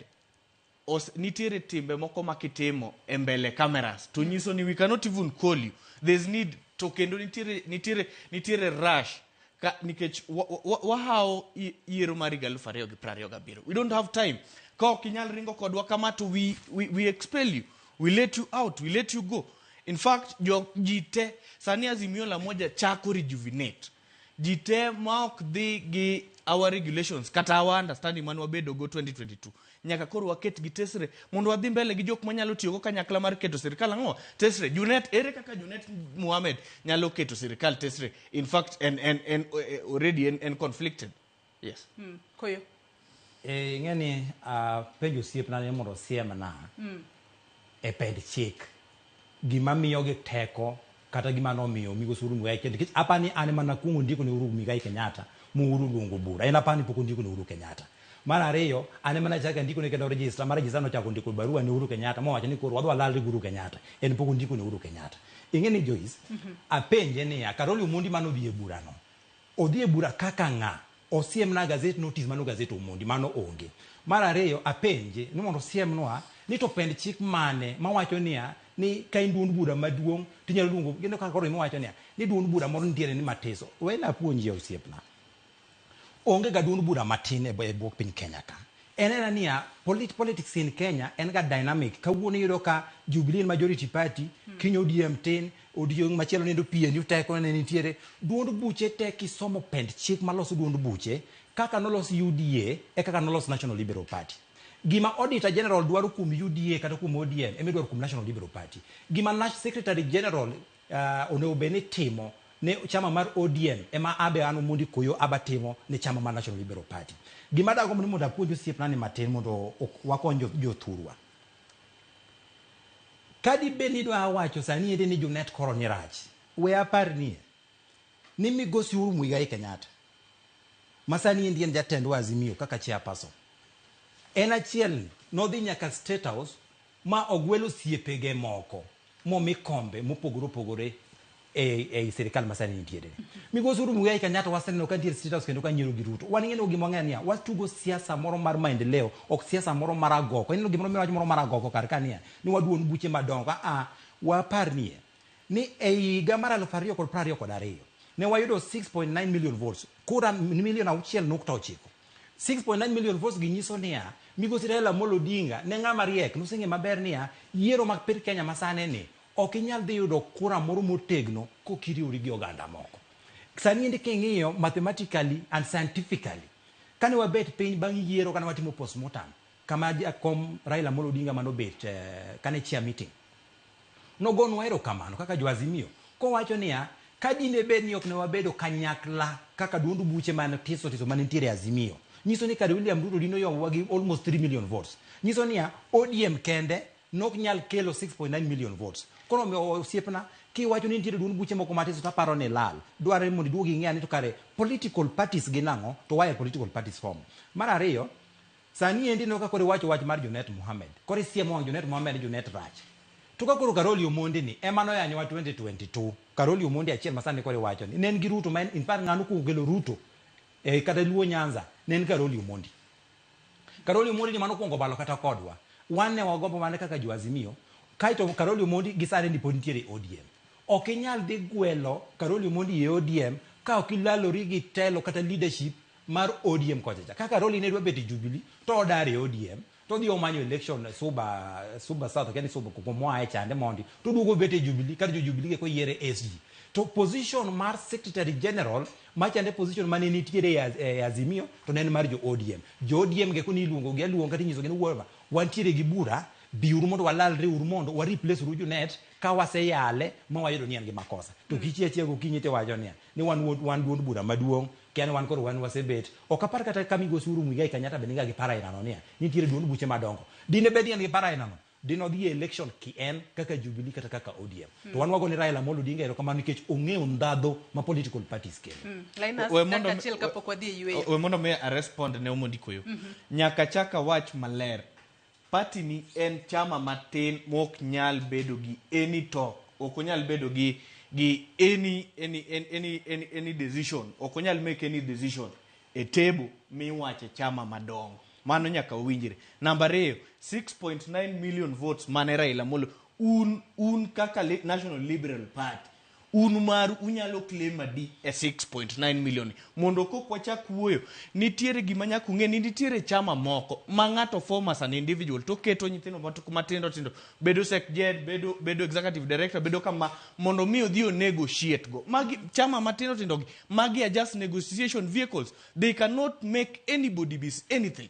os, nitiere timbe moko ma kitimo e mbele cameras to nyiso ni we cannot even call you there's need to kendo nitiere nitiere nitiere rush Ka, nikech wa- wa- wahawo i- yiero mar higa elfu ariyo gi piero ariyo gabiriyo we don't have time ka ok inyal ringo kodwa kama to we, we, we expel you we let you out we let you go in fact jo ji te sani azimio la moja chako rejuvenate ji te ma ok dhi gi our regulations kata our understanding mane wabedogo 2022 Nyaka koro waket gi tesre mondo wadhi mbele gi jok manyalo tiyogo kanyakla mar keto sirikal ang'o? Tesre, Junet, ere kaka Junet Mohamed nyalo keto sirikal tesre? In fact, en, en, en, eh, already en, en conflicted. Yes. Mm. Koyo. Eh, ing'e ni uh, penjo osiepna ni mondo osiemna mm. e pend chik, gima miyogi teko kata gima nomiyo Migosi Uhuru Muigai Kenyatta, nikech aparo ni an ema nakuongo ndiko ne Uhuru Muigai Kenyatta ma Uhuru oluongo bura, en aparo ni pok ondiko ne Uhuru Kenyatta. Mar ariyo, an ema nachako andiko ne kendo register ma register nochako ondiko barua ne Uhuru Kenyatta mowacho ni koro wadhi walalre gi Uhuru Kenyatta, en pok ondiko ne Uhuru Kenyatta. Ing'e ni Joyce, apenje niya, Karoli Omondi mane odhi e burano, Odhi e bura kaka ng'a? Osiemna gazet notice mano gazet Omondi, mano onge. Mar ariyo apenje ni mondo osiemnwa ni to pend chik mane mawacho niya ni ka in duond bura maduong' to inyalo luongo ineno kaka koro iwacho niya ni duond bura moro nitiere ni matiso. Wena apuonjie osiepna. Onge ga duond bura matin e bwo piny Kenya ka. En aena niya, polit politics in Kenya en ga dynamic. Kawuono iyudo ka Jubilee en majority party, kiny ODM tin, odiochieng' machielo nindo PNU teko ne nitiere. Duond buche te kisomo pend chik maloso duond buche, kaka nolos UDA e kaka nolos National Liberal Party. Gima Auditor General dwaro kuom UDA kata kuom ODM ema idwaro kuom National Liberal Party. Gima Nash Secretary General onego bed ni timo ne chama mar ODM ema abe an Omondi Koyo aba timo ne chama mar National Liberal Party. Gima dagomb ni mondo apuonj osiepna ni matin mondo wakony jothurwa. Kadi bed ni dwa wacho sani ende ni Junet koro ni rach, we apar ni ni migosi Uhuru Muigai Kenyatta ma sani endi en jatendwa Azimio kaka chairperson en achiel ni nodhi nyaka State House Ma ogwel osiepege moko momi kombe mopogore opogore ei, ei sirikal ma sani nitiere. Migosi Uhuru Muigai Kenyatta waseneno ka nitiere State House kendo ka nyiero gi Ruto. Wan ineno gima wang'eyo niya, watugo siasa moro mar maendeleo, ok siasa moro mar agoko. Ineno gimoro miwacho moro mar agoko kar ka niya, ni waduon buche madongo. A a, waparnie ni ei higa mar aluf ariyo kod piero ariyo kod ariyo, ne wayudo 6.9 million votes, kura milion auchiel nukta ochiko. 6.9 million votes gi nyiso niya, Migosi Raila Amolo Odinga ne ng'ama riek, noseng'e maber niya, yiero mag piny Kenya masane ni, ok inyal dhi yudo kura moro motegno kok iriwori gi oganda moko. Sani endi king'iyo mathematically and scientifically, kane wabet piny bang' yiero kane watimo postmortem, Kama jakom Raila Amolo Odinga mane obet eh, kane chair meeting nogonwa erokamano kaka jo Azimio kowacho niya ka dine bed ni ok ne wabedo kanyakla kaka duond buche man tiso tiso mane nitiere e Azimio nyiso ni kare William Ruto dine oyowa gi almost 3 million votes nyiso niya ODM kende nok nyal kelo 6.9 million votes koro omiyo osiepna kiwacho ni nitiere duond buche moko matiso to aparo ni lal dwarore mondo iduog ing'e ane to kare political parties gin ang'o to why are political parties formed mar ariyo Sani endi ineno ka koro iwacho wach mar Junet Mohammed. Koro isiemo wang' Junet Mohammed ni Junet rach. To ka koro Karoli Omondi ni ema noyanyowa 2022. Karoli Omondi achiel ma sani koro iwacho ni ne en gi Ruto ma en in fact ng'ano kuongo kelo Ruto e kata Luo Nyanza ne en Karoli Omondi. Karoli Omondi ni mano kuongo balo kata kodwa. Wan ne wagombo mana kaka jo Azimio. Kaeto Karoli Omondi gi sani ni pod nitiere e ODM. Ok inyal dhi gwelo Karoli Omondi e ODM ka ok ilalori gi telo kata leadership mar ODM kocha cha. Kaka Roli ne dwa bet e Jubilee to odar e ODM to odhi omanyo election e Suba Suba South kendo Suba kuma moa e chande mondi to oduogo bet e Jubilee kar jo Jubilee eko yiere SG. To position mar Secretary General machande position mane nitiere e Az- e Azimio to ne en mar jo ODM. Jo ODM geko ni iluongo gi aluonga to inyisogi ni "Wuora, wantiere gi bura biuru mondo walalre uru mondo wa replace uru Junet ka waseyale ma wayudo ni en gi makosa. To kichia chia gokinyi tiwacho niya ni wan wuod wan duond bura maduong' kia ni wan koro wan wasebet ok apar kata ka migosi Uhuru Muigai Kenyatta be niga gi paro aina no niya nitiere duond buche madongo dine bed ni en gi paro aina no dine odhi e election ki en kaka Jubilee kata kaka ODM mm. to wan wago ni Raila Amolo Odinga erokamano nikech ong'eyo ndhadho ma political parties kelo mm. Linus we mondo achiel kapok wadhi e yueyo we mondo me a respond ne Omondi Koyo mm -hmm. nyaka chaka wach maler Party ni en chama matin mok nyal bedo gi any talk, ok onyal bedo gi gi any any any any any decision, ok onyal make any decision e table miwache chama madongo. Mano nyaka wawinjre. Namba ariyo, 6.9 million votes mane Raila Amolo un un kaka National Liberal Party Un maru unyalo claim adi e 6.9 million? Mondo kok wachak wuoyo, nitiere gima nyaka ung'e ni nitiere chama moko ma ng'ato form as an individual to keto nyithindo mat- matindo tindo bedo secretary, bedo bedo executive director, bedo kama mondo mi odhi o negotiate go. Magi chama matindo tindo gi, magi are just negotiation vehicles. They cannot make anybody be anything.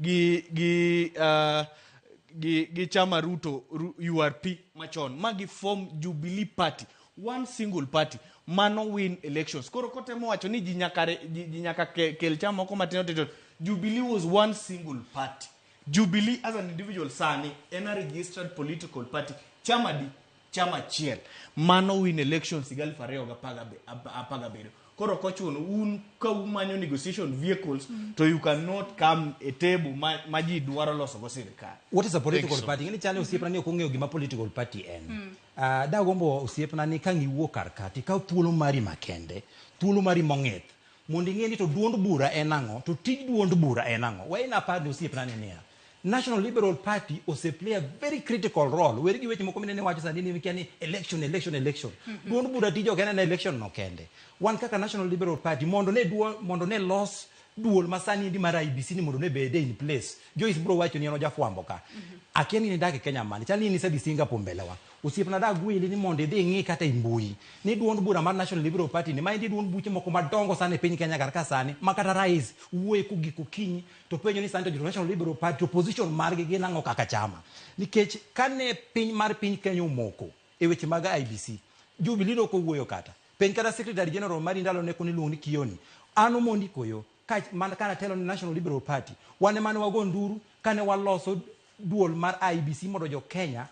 gi gi uh, gi gi chama Ruto Ru- URP machon ma gi form Jubilee party one single party mano win elections koro kotemo wacho ni ji nyaka re- ji ji nyaka ke- kel chama moko matindo tindo Jubilee was one single party Jubilee as an individual sani en a registered political party chama di chama achiel mano win elections higa aluf ariyo gi apar gabe- ap- apar gabiriyo koro ok ochuno un ka umanyo negotiation vehicles to you cannot come e table ma, ma ji dwaro loso go sirikal what is a political Thank you so party ngeni chane osiepna ni ok ong'eyo gima political party en Ah, dagombo osiepna ni kang' iwuo kar kati ikaw thuolo mari makende thuolo mari mong'ith mondo ing'e ni to duond bura en ang'o to tij duond bura en ang'o wayna apar ni osiepna ni niya National Liberal Party ose play a very critical role. Weri gi weche moko minene wacho sani ni mikia ni election, election, election. Duond bura tije ok en election no kende. Wan kaka National Liberal Party mondo ne duo, mondo ne los duol ma sani endi mar IBC ni mondo ne bede in place. Joyce bro wacho ni en ojafwambo ka. Akia ni nidak e Kenya mani. Chal ni in isedhi Singapore mbelewa. Osiepna da gweli ni mondo idhi ing'i kata e mbui ni duond bura mar National Liberal Party ni ma endi duond buche moko madongo sana e piny Kenya kar ka sani ma kata rais wuoye kogik okinyi to penjo ni sani to jo National Liberal Party opposition margi gin ang'o kaka chama nikech kane piny mar piny Kenya omoko e weche mag IBC Jubilee no kowuoyo kata piny kata Secretary General mari ndalo ne koni luong ni Kioni an omondi koyo ka man kana telo ni National Liberal Party wane mane wago nduru kane waloso duol mar IBC mondo jo Kenya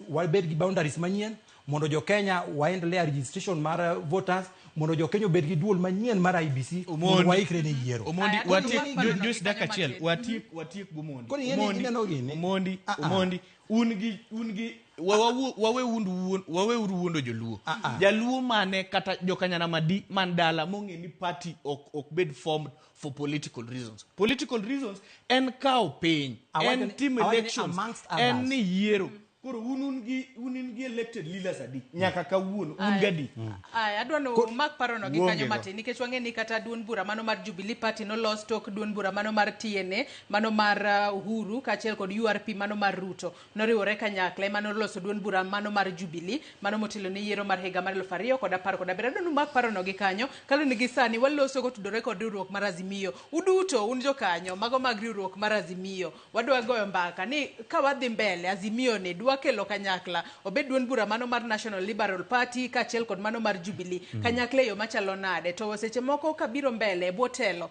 wabed gi boundaries manyien mondo jo Kenya waendelea registration mar eh, voters mondo jo Kenya obed gi duol manyien mar IBC mondo Omondi. waikre ne yiero Omondi, Aya, watiek- koro ing'eni- ju- just dakika achiel, Kenya watiek- watiek g'Omondi. Koro ing'eni Omondi, ineno gini? Omondi, Ah, ah. Omondi, un gi- un gi- wa- wawu- waweundu wuon- waweuru wuondo joluo jaluo mane kata jokanyana madi man dala mong'e ni party ok ok bed formed for political reasons political reasons en kawo piny Awachone- en tim awachone elections amongst others. en ni yiero koro un un gi un in gi elected leaders adi nyaka kawuono un Aya. gadi Ay, adwa no mak parono gi Wuonge kanyo go. matin nikech wang'e ni kata duond bura mano mar Jubilee Party nolos tok duond bura mano mar TNA mano mar uh, Uhuru kaachiel kod URP mano mar Ruto Noriwore kanyakla ema noloso duond bura mano mar Jubilee, mano motelo ne yiero mar higa mar eluf ariyo kod apar kod abiriyo. Adwani umak parono gi kanyo, kaluwore ni gisani waloso kotudore kod riwruok mar Azimio. Uduto un jokanyo mago mag riwruok mar Azimio, wadwa goyo mbaka ni ka wadhi mbele, Azimio ni dwa kelo kanyakla, obed duond bura mano mar National Liberal Party kaachiel kod mano mar Jubilee, kanyakla e yo machalo nade, to seche moko kabiro mbele e bwo telo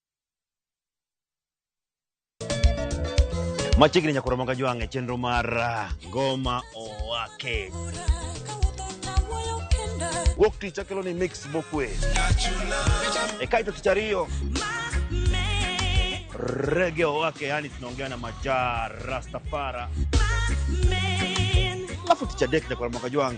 machiegni nyaka romo ka jwang' e chenro mar ah, ngoma owake wuok tich akelo ni mix mokwe e kaito tich ariyo rege owake yani tunaongea na majaa rastafara alafu tich adek nyaka romo ka jwang'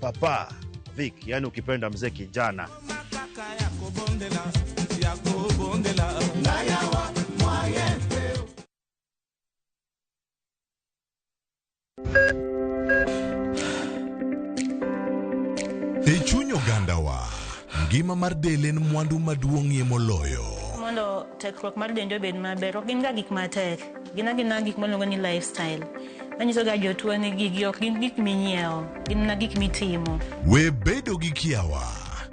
papa Vic, yani ukipenda mzee kijana. E chuny ogandawa, ngima mar del en mwandu maduong'ie moloyo. mondo tekruok mar dendi obed maber ok gin ga gik matek Gin agina gik mwaluongo ni lifestyle manyisoga jotuo ni gigi ok gin gik minyiewo, gin mana gik mitimo. We bedo gi kiawa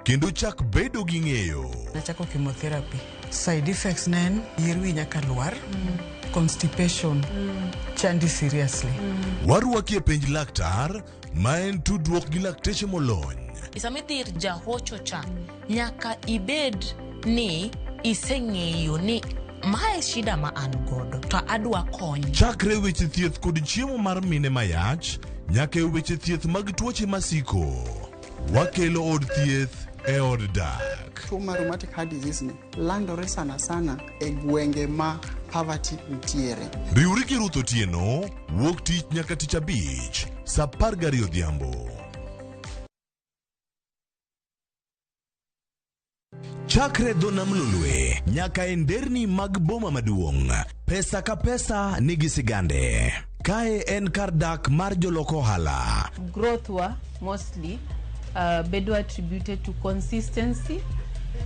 kendo chak bedo gi ng'eyo. Nachako chemotherapy. Side effects ne en yier wiyi nyaka lwar, constipation, chandi seriously. Warwaki e penj laktar ma en tudruok gi lakteche molony. Sama idhi ir jahocho cha, nyaka ibed ni iseng'eyo ni mae shida ma an godo to adwa kony. Chakre weche thieth kod chiemo mar mine mayach nyaka e weche thieth mag tuoche masiko. Wakelo od thieth e od dak. Tuo mar rheumatic heart disease ni Landore sana sana e gwenge ma poverty nitiere. Riwri gi Ruth Otieno, wuok tich nyaka tich abich, sa apar gariyo odhiambo. Chakre dho nam lolwe nyaka e nderni mag boma maduong'. Pesa ka pesa nigi sigande. Kae en kar dak mar jolok ohala. growth wa mostly uh, bedo attributed to consistency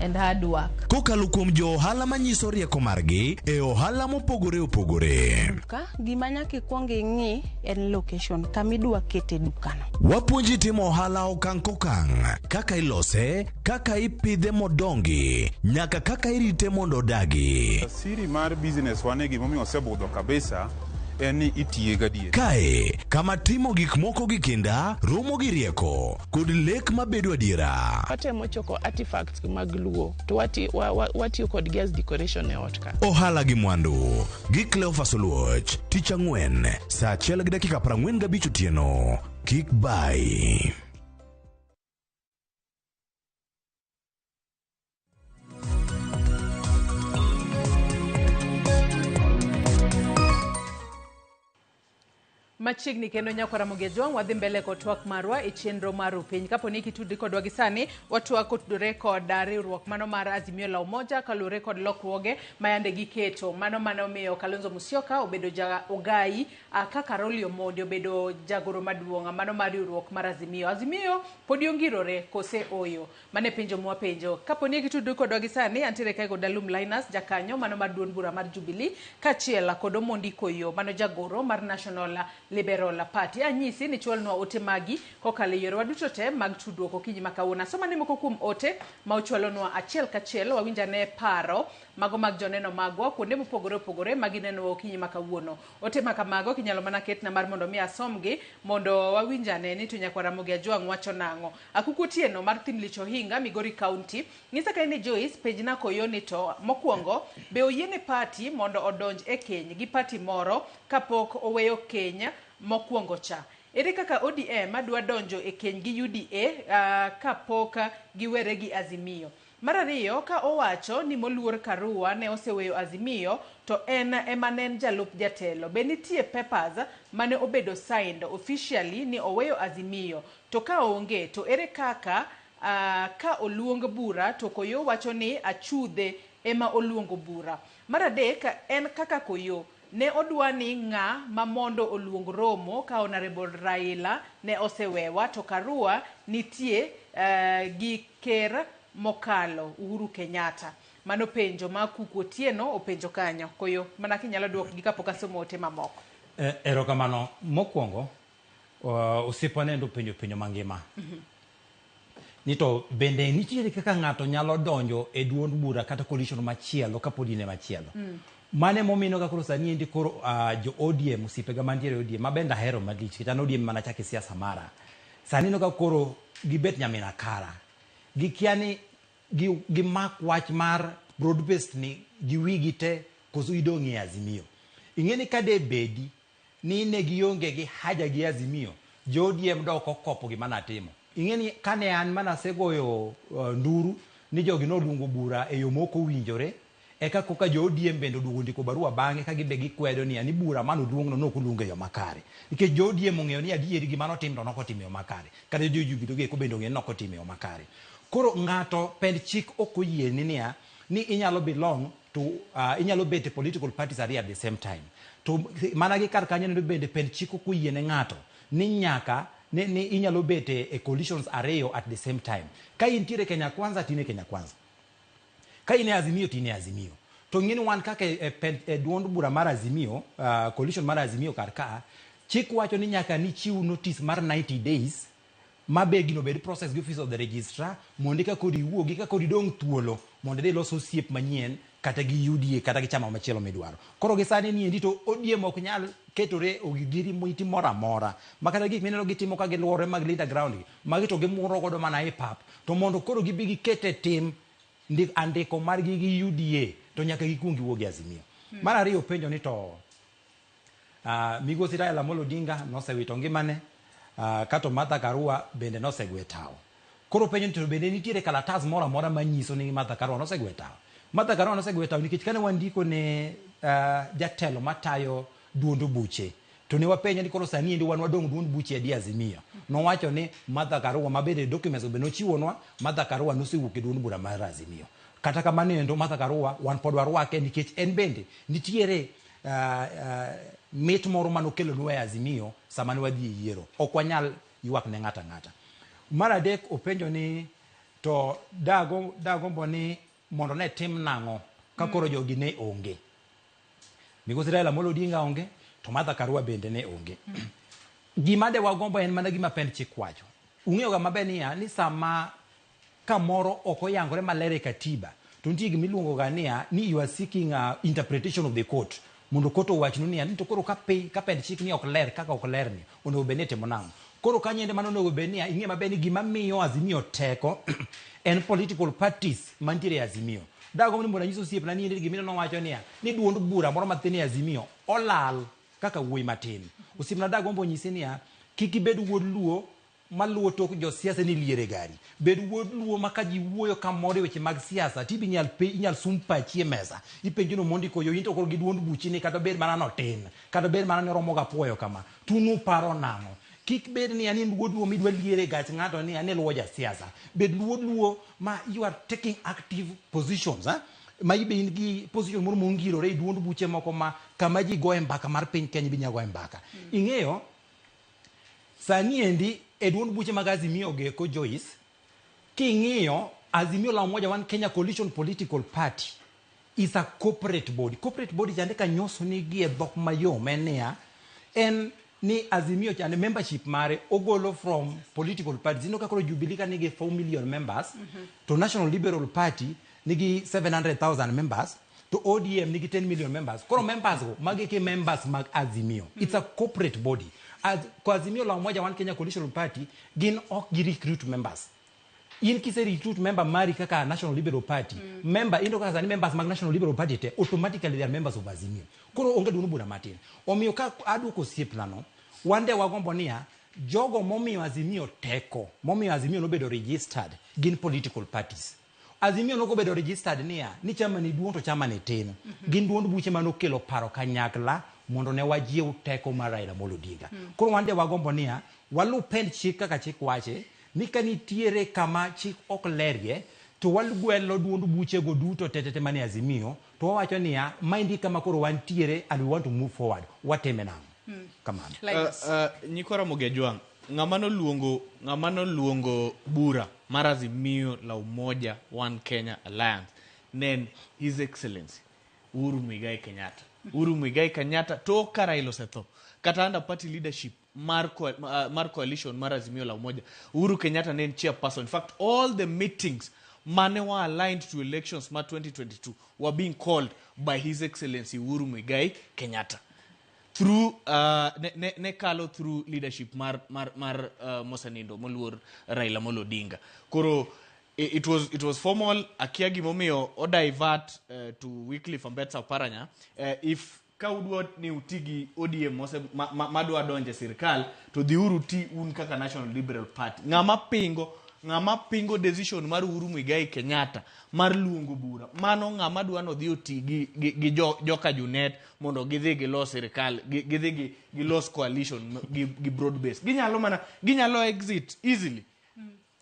and hard work Kokalo kuom jo ohala manyiso rieko margi e ohala mopogore opogore. ka gima nyaka ikwong ing'i en location kama idwa kete dukano Wapuonji timo ohala okang' kokang', kaka ilose, kaka ipidhe modongi nyaka kaka irite mondo odagi. Siri mar business wa ne gimomiyo osebudho kabisa en ni itiye gadier. Kae kama timo gik moko gi kinda romo gi rieko kod lek mabedo adiera. watemo choko artifacts mag luo to wati- wa- wa- watiyo kodgi as decoration e ot ka Ohala gi mwandu gi Cleophas Oluoch tich ang'wen saa achiel gi dakika 45 otieno. Kik bay. machiegni kendo nyako ramogi ajwang' wadhi mbele kod twak marwa e chenro mar upiny kapo ni kitudri kodwa gi sani watwak kotudore kod ah, riwruok mano mar azimio la umoja kaluwore kod lokruoge ma yande giketo mano mane omiyo kalonzo musyoka obedo ja ogayi ah, ka karoli omondi obedo jagoro maduong' ah, mano mar riwruok mar azimio azimio Podi ongirore kose oyo? Mano e penjo mwapenjo. Kapo ni e gitudru kodwa gi sani, antiere kae kod Alum Linus, jakanyo mano mar duond bura mar Jubilee, kaachiel kod Omondi Koyo mano jagoro mar National Liberal Party. Anyisi ni chwalnwa ote magi kokalo e yorewa duto te mag tudruok okinyi ma kawuono. Asom ane moko kuom ote ma uchwalonwa achiel kachiel, wawinj ane paro mago mag joneno magwa kuonde mopogore opogore ma ginenowa okinyi ma kawuono. Ote ma kamago kinyalo mana ketna mar mondo mi asomgi mondo wawinj ane ni to Nyakwa Ramogi Ajwang' wacho nang'o. Akuku Otieno mar Thimlich Ohinga, Migori County. Nyisa ka in e Joyce, penjna koyo ni to, mokuongo, be oyiene party mondo odonj e keny gi party moro kapok oweyo keny mokuongo cha? Ere kaka ODM dwa donjo e keny gi UDA kapok giwere gi Azimio? Mar ariyo, ka owacho ni moluor Karua ne oseweyo Azimio to en ema ne en jalup jatelo, be nitie papers mane obedo signed officially ni oweyo Azimio? To ka onge to ere kaka ka oluong bura to Koyoo wacho ni achudhe ema oluongo bura? Mar adek, en kaka Koyoo, Ne odwani ng'a ma mondo oluong romo ka Honourable Raila ne osewewa to Karua nitie gi ker mokalo Uhuru Kenyatta. Mano penjo ma Kuku Otieno openjo kanyo. Koyo mana kinyalo duok gi kapok asomo ote mamoko. Erokamano. Mokwongo, osiepwa ne endo openjo penjo mangima. Ni to bende nitiere kaka ng'ato nyalo donjo e duond bura kata coalition machielo kapod in e machielo. Mano ema omino ga koro sani endi koro ah, jo ODM osiepega mantiere e ODM ma bende ahero malich nikech an ODM mana chako e siasa mara. Sani ineno ka koro gibet nyamin akara. Gikia ni gi, gimak wach mar broad based ni gi wigi te koso idong' e Azimio. Ing'e ni ka de bedi ni ne gionge gi haja gi Azimio, jo ODM dok okopo gima natimo. Ing'e ni kane an ma nasegoyo nduru ni jogi noluongo bura e yo ma ok owinjore, eka koka jo ODM bende oduogo ondiko barua bang'e ka gin be gikwedo niya ni bura mane oluongno ne ok oluong e yo makare. Nikech jo ODM ong'eyo ni adieri gima notim to ne ok otim e yo makare. Kata jo Jubilo gi eko bende ong'eyo ni ne ok otim e yo makare. Koro ng'ato pend chik ok oyieni niya, ni inyalo belong to uh, inyalo bet e political parties ariyo at the same time to mana gi kar kanyo neno bende pen chiko kuyie ne ng'ato ni nyaka ni, ni inyalo bet e, e coalitions ariyo at the same time ka intiere kenya kwanza tine kenya kwanza ka in e azimio to in e azimio to ng'e ni wan kaka e, e, pen- e duond bura mar azimio uh, coalition mar azimio kar ka chik wacho ni nyaka nichiw notice mar 90 days Ma be gino bed process gi office of the registrar mondo eka koro iwuogi eka koro idong' thuolo mondo idhi ilos osiep manyien kata gi UDA kata gi chama machielo midwaro. Koro gi sani ni endi to ODM ok nyal ketore ogidiri miti moro amora ma kata gik mineno gitimo ka giluorore mag Linda Ground gi magi to gimuro godo mana e pap to mondo koro gibi giket e tim ndi, andiko margi gi UDA to nyaka gikuong giwuog e Azimio. Mar ariyo openjo ni to Uh, migosi Raila Amolo Odinga nosewito ngimane uh, kato Martha Karua bende nosegwe tawo. Koro penjo ni to bende nitiere kalatas moro amora manyiso ni Martha Karua nosegwe tawo. Martha Karua nosegwe tawo nikech kane wandiko ne uh, jatelo matayo duond buche to ne wapenje ni koro sani endi wan wadong' duond buche adi Azimio. Nowacho ni Martha Karua ma bende documents be nochiwonwa Martha Karua nosewuok e duond bura mar Azimio. Kata kamano endo Martha Karua wan pod warwake nikech en bende nitiere Uh, uh, mit moro mane okelonwa e Azimio sama ne wadhi e yiero. Ok wanyal ywak ne ng'ato ang'ata. Mar adek openjo ni to dago dagombo ni mondo ne tim nang'o ka koro jogi ne onge. Migosi Raila Amolo Odinga onge to Martha Karua bende ne onge. Gima de wagombo en mana gima pend chik wacho. Ung'eyoga maber niya ni sama ka moro ok oyangore maler e Katiba to nitie gima iluongo ga niya ni you are seeking a interpretation of the court mondo court owachnu niya ni to koro ka piny ka pend chik ni ok ler kaka ok ler ni onego bed ni itimo nang'o koro kanyo ende mano onego bed niya ing'e maber ni gima miyo Azimio teko en political parties mantiere e Azimio dago ni mondo anyis osiepna ni ende gima ineno wacho niya ni duond bura moro matin e Azimio olal kaka wuoyi matin osiepna dago mondo onyise niya kik ibed wuod luo maluwo tok jo siasa ni liere gari. Bed wuod luo ma ka ji wuoyo ka mor e weche mag siasa tibi nyal pe inyal sum pachi e mesa. Ipenjo ni Omondi koyo into koro gi duond buchi ni kata obed mana ni otin, kata obed mana ni oromo ga puoyo kama, to un uparo nang'o? Kik bed ni an in wuod luo midwa liere e gach ng'ato ni an iluwo ja siasa. Bed luod luo ma you are taking active positions, eh? ma ibe in gi position moro mongirore e duond buche moko ma kama ji goye mbaka mar piny Kenya ibi inya goye mbaka. Ing'eyo? Sani endi e duond buche mag Azimio geko Joyce, king'iyo Azimio la Umoja One Kenya Coalition Political Party is a corporate body. Corporate body chande kanyoso ni gie dhok mayom en niya, en ni Azimio chande membership mare ogolo from political parties. Ineno ka koro Jubilee ka nigi 4 million members to National Liberal Party nigi 700,000 members to ODM nigi 10 million members. Koro members go magi ki members mag Azimio. Mm -hmm. It's a corporate body. As, kwa Azimio la Umoja One Kenya Coalition Party gin ok gi recruit members. In kise recruit member mari kaka National Liberal Party, mm. member indo kaka sani members mag National Liberal Party te automatically they are members of Azimio. Koro onge dunu bura matin. Omiyo ka adu ko siep nano, wande wagombo niya jogo momiyo Azimio teko, momiyo Azimio nobedo registered gin political parties. Azimio nogo bedo registered niya, ni chama ni duong' to chama ni tin. Mm -hmm. Gin duond buche mane okelo paro kanyakla mondo ne wajiew teko mar Raila Amolo Odinga. Mm. Koro wan de wagombo niya, walu pend chik kaka chik wache ni ka nitiere kama chik ok lerie to walugwelo duond buchego duto tetete mane Azimio To wawacho niya, maendi e kama koro wantiere and we want to move forward. Watime nang'o? Hmm. Kamano. Uh, uh, Nyikwa Ramogi Ajwang', ng'ama noluongo ng'ama noluongo bura mar Azimio la Umoja One Kenya Alliance ne en His Excellency Uhuru Muigai Kenyatta. Uhuru Muigai Kenyatta tok ka Raila osetho kata under party leadership mar, co- uh, mar coalition mar Azimio la Umoja. Uhuru Kenyatta ne en chairperson. In fact, all the meetings mane wa aligned to elections ma 2022 were being called by His Excellency Uhuru Muigai Kenyatta through uh, ne, ne, ne kalo through leadership mar mar mar uh, Mosanindo moluor Raila Amolo Odinga. Koro i- it was it was formal akia gimomiyo o divert uh, to Wycliffe Ambetsa Oparanya uh, if ka udwa ni uti gi ODM mose, ma, ma, ma dwa donje sirkal to dhiuru ti un kaka National Liberal Party. Ng'ama pingo ng'ama pingo decision mar Uhuru Muigai Kenyatta mar luongo bura mano ng'ama dwa nodhi oti gi, gi, gi jo, joka Junet mondo gidhi gilos sirkal gi- gidhi gi- gilos coalition m- gi, gi broad base ginyalo mana ginyalo exit easily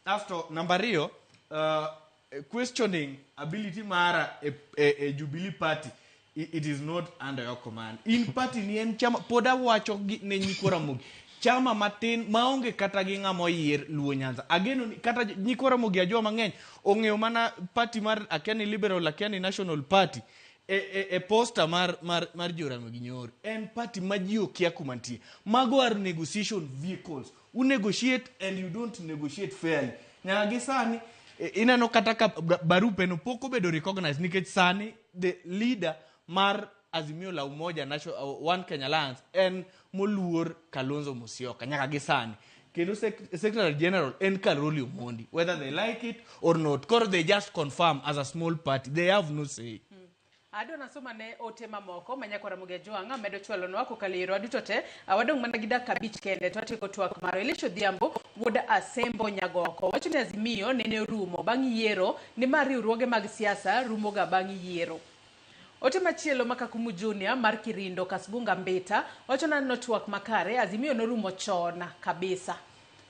asto namba ariyo uh, eh, questioning ability mara e, e, e Jubilee Party it is not under your command. In party ni en chama pod awacho ne nyikwa Ramogi chama matin maonge kata gi ng'ama oyier Luo Nyanza. Ageno ni kata nyikwa Ramogi ajo mang'eny ong'eyo mana party mar Akiani Liberal Akiani National Party e, e, e posta mar, mar, mar Joramogi Nyoro. En party ma ji okia kuma nitie. Mago are negotiation vehicles u negotiate and you don't negotiate fairly nyaka gi sani i- ineno kata ka ba- barupe no pok obedo recognized nikech sani the leader mar azimio la umoja national, uh, one kenya alliance en moluor kalonzo musyoka nyaka gi sani kendo sec- secretary general en karoli omondi whether they like it or not koro they just confirm as a small party they have no say Adwa nasom ane ote mamoko ma nyako Ramogi Ajwang' medo chwalonwa kokalo e yorwa duto te. Ah, Wadong' mana gi dakika abich kende to watieko twak marwa. Elisha Odhiambo wuod Asembo Nyagoko wacho ni Azimio nene orumo bang' yiero nimar riwruoge mag siasa rumoga bang' yiero. Ote machielo ma Kakumu Junior mar Kirindo Kasbunga Mbita wacho naneno twak makare Azimio norumo chon kabisa.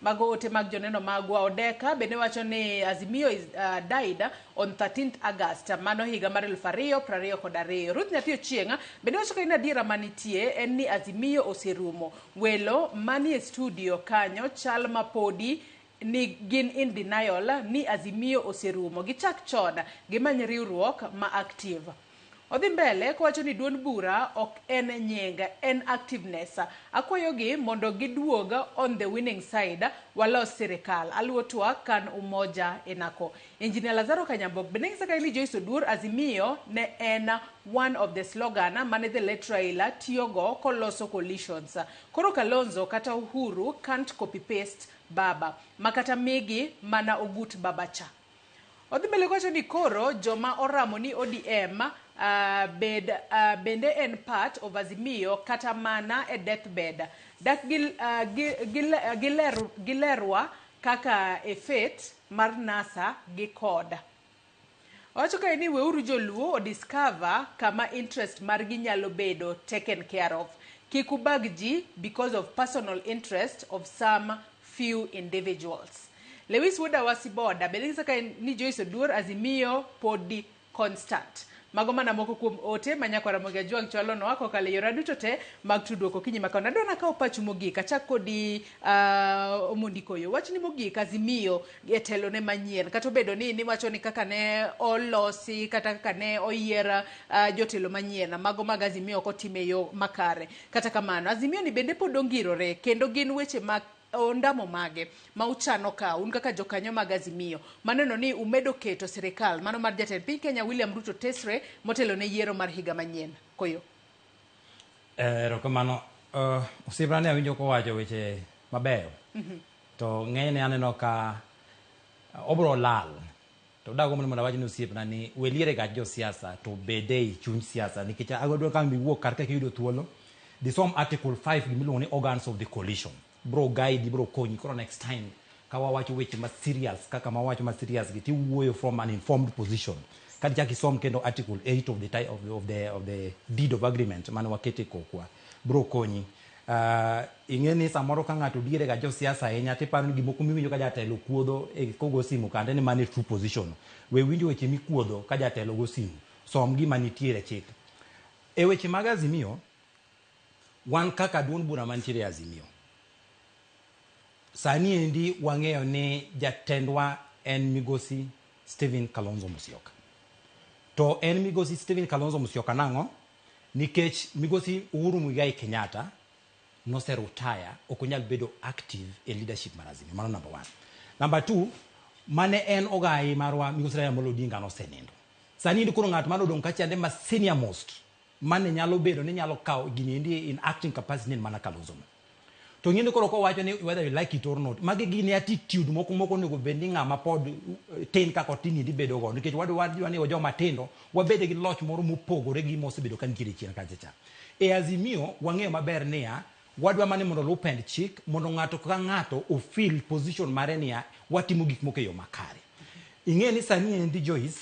Mago ote mag joneno magwa. Odeka bende wacho ni Azimio is, uh, died on 13th August, mano higa mar elfu ariyo prariyo kod ariyo. Ruth Nyathi Ochieng' bende wacho ni adiera manitie en ni Azimio oserumo. Welo manie studio kanyo chal ma podi ni gin in denial ni Azimio oserumo. Gichak chon gimany riwruok ma active. Odhi mbele kowacho ni duond bura ok en nying, en activeness. Akwayogi mondo giduog on the winning side walos sirikal. Aluo twak kan umoja inako. Engineer Lazaro Kanyambok be neng'isa kae ni Joyce Oduor Azimio ne en one of the slogan mane the late Raila tiyogo koloso coalitions. Koro Kalonzo kata Uhuru can't copy paste baba. Makata migi mana ogut baba cha. Odhi mbele kowacho ni koro joma oramo ni ODM uh, ah, bed, uh, bende en part of Azimio kata mana e deathbed. Dak gil, uh, gil, gil, uh, giler, gilerwa kaka e faith mar NASA gi koda. Owacho kae ni weuru joluo odiscover kama interest margi nyalo bedo taken care of. Kik ubag ji because of personal interest of some few individuals. Lewis wuod Awasi Boda bende nyisa ka ni Joyce Oduor Azimio podi constant. Mago mana moko kuom ote ma Nyako Ramogi Ajwang' chwalonwa kokalo e yora duto te mag tudruok okinyi ma kawuono. Adwa nakawo pachu mogik, achak kodi uh, Omondi Koyo. Wachni mogik Azimio e telone manyien, kata obedo ni niwacho ni kaka ne olosi kata kaka ne oyier uh, jotelo manyien, mago mag Azimio ok otim e yo makare. Kata kamano, Azimio ni bende pod ongirore kendo gin weche mag ondamo mage ma uchano kawo un kaka jokanyo mag Azimio ma neno ni umedo keto sirikal mano mar jatend piny Kenya William Ruto tesre motelo ne yiero mar higa manyien? Koyo. Eh, erokamano. Uh, osiepna ne awinjo kowacho weche mabeyo. Mm -hmm. To ng'enyne aneno ka obro lal To dagomb ni mondo awach ni osiepna ni we liere gach jo siasa to bed ei chuny siasa nikech agodwa ka mi wuok kar ka kiyudo thuolo di som article 5 gima iluongo ni organs of the coalition bro guide bro konyi koro next time ka wawacho weche ma serious kaka ma wawacho ma serious gi tiwuoyo from an informed position ka dichak isom kendo article 8 of the, ti- of the, of the, of the deed of agreement mane wakete kokwa bro konyi Ing'e ni samoro ka ng'ato diere ga josiasa ahinya to iparo ni gik moko miwinjo ka jatelo kuodho kogo simu kande ni mano e true position. We winjo weche mikuodho ka jatelo go simu. Som gima nitiere e chik. E weche mag Azimio, wan kaka duond bura mantiere e Azimio, sani endi wang'eyo ni jatendwa en migosi Stephen Kalonzo Musyoka. To en migosi Stephen Kalonzo Musyoka nang'o? Nikech migosi Uhuru Muigai Kenyatta nose rutaya ok onyal bedo active e leadership mar Azimio. Mano number one. Number two, mane en ogayi marwa migosi Raila Amolo Odinga nosenindo. Sani endi koro ng'at mane odong' kacha ende ma senior most mane nyalo bedo ni nyalo kawo gini endi in acting capacity en mana Kalonzo no. To ing'e ni koro kowacho ni whether you like it or not, magi gin attitude moko moko onego bed ni ng'ama pod eh, tin kaka otin endi bedo go nikech wadu wadwa ni joma tindo wabede gi loch moro mopogore gi mosebedo ka nitiere chien kacha cha. E Azimio wang'eyo maber niya wadwa mani mondo oluw pend chik mondo ng'ato ka ng'ato ofil position mare niya watimo gik moko e yo makare. Ing'e ni sani endi Joyce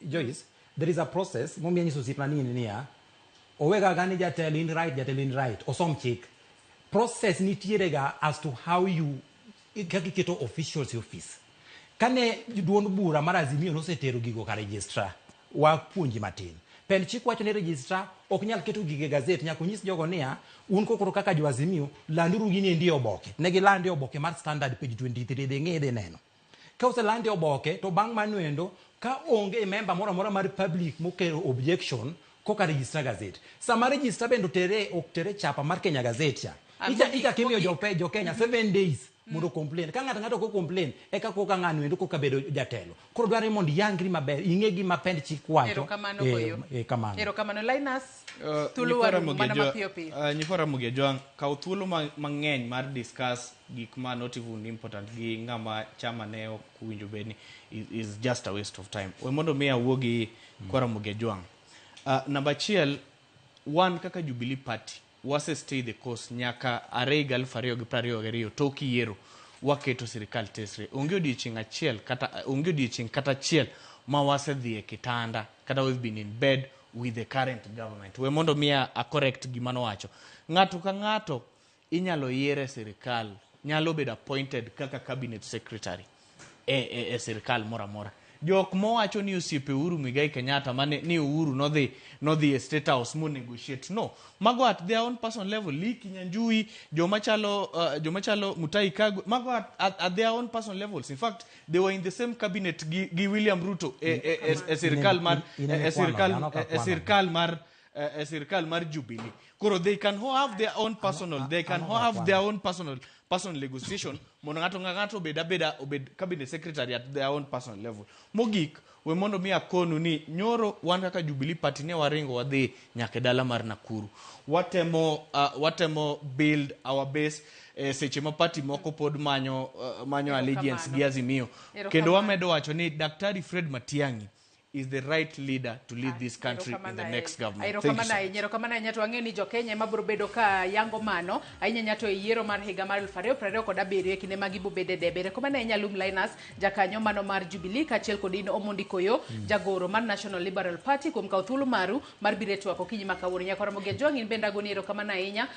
Joyce, there is a process momiya nyiso osiepna ni in niya, owega ga ni jatelo in right, jatelo in right, osom chik. Process nitiere ga as to how you kaka iketo officials e office. Kane duond bura mar Azimio nosetero gigo ka registrar, wapuonji matin. Pend chik wacho ni registrar ok nyal keto gige gazet, nyaka onyis jogo niya, un kokoro kaka jo Azimio, landuru gini endi e oboke. Ne gilande e oboke mar Standard page 23, dhi ng'i idhi neno. Ka oselande e oboke to bang' mano endo ka onge member moro amora mar public mokelo objection koka register gazette. Sama register bende otere ok tere chapa mar Kenya Gazette cha. Ah, Icha mogik, icha kimiyo jo mogik. jo Kenya 7 days mondo complain. Ka ng'ato ng'ato ko complain eka koka ng'ano endo koka bedo jatelo. Koro dwarore mondo iyangri maber, ing'e gima pend chik wacho. Erokamano Eh, goyo. eh, kamano. Erokamano Linus. Uh, Thuolo Nyikwa waru Ramogi mana Ajwa- mapiyo piyo. uh, Nyikwa Ramogi Ajwang', kaw thuolo ma- mang'eny mar discuss gik ma not even important gi ng'ama chama ne ok winjo bed ni is, is just a waste of time we mondo mi awuo gi kwara mugejwang uh, namba achiel wan kaka jubilee party wase stay the course nyaka are higa aluf ariyo gi prariyo gariyo tok yiero waketo sirikal tesre onge odiechieng achiel kata onge odiechieng kata achiel ma wasedhi e kitanda kata we've been in bed with the current government we mondo mi a a correct gima nowacho ng'ato ka ng'ato inyalo yier e sirkal nyalo bedo appointed kaka cabinet secretary e, e, e sirkal moro amora jok mowacho ni osiepe Uhuru Muigai Kenyatta mane ni Uhuru nodhi nodhi e State House mo negotiate no mago at their own personal level Liki Nyanjui joma chalo uh, joma chalo Mutai Kagwe mago at, at, at their own personal levels in fact they were in the same cabinet gi, gi William Ruto e, e, e, e sirkal mar Ine- e, inene e sirkal kwano, yanoko e, e kwano. sirkal mar uh, sirkal mar Jubilee. Koro they can ho- have their own personal, they can ho- have their own personal personal negotiation mondo ng'ato nga- ng'ato obed abeda obed cabinet secretary at their own personal level. Mogik, we mondo mi akonu ni nyoro wan kaka Jubilee party ne waringo wadhi nyaka e dala mar Nakuru. Watemo uh, watemo build our base eh, seche ma party moko pod manyo uh, manyo allegiance gi Azimio. Erokamano. Kendo wamedo wacho ni Daktari Fred Matiang'i is the right leader to lead this country in the Erokamano next ahinya. government. Thank you so Erokamano much. ahinya, erokamano ahinya to ang'eyo ni jokenya ema biro bedo ka yango mano ahinya ahinya to e yiero mar higa mar elfu ariyo piero ariyo kod abiriyo e kinde ma gibobede debe erokamano ahinya Lum Linus jakanyo mano mar Jubilee kaachiel kod in Omondi Koyo jagoro mar National Liberal Party kuom kawo thuolo maru mar biro e twak okinyi ma kawuono nyaka Ramogi Ajwang' in bende agoni erokamano ahinya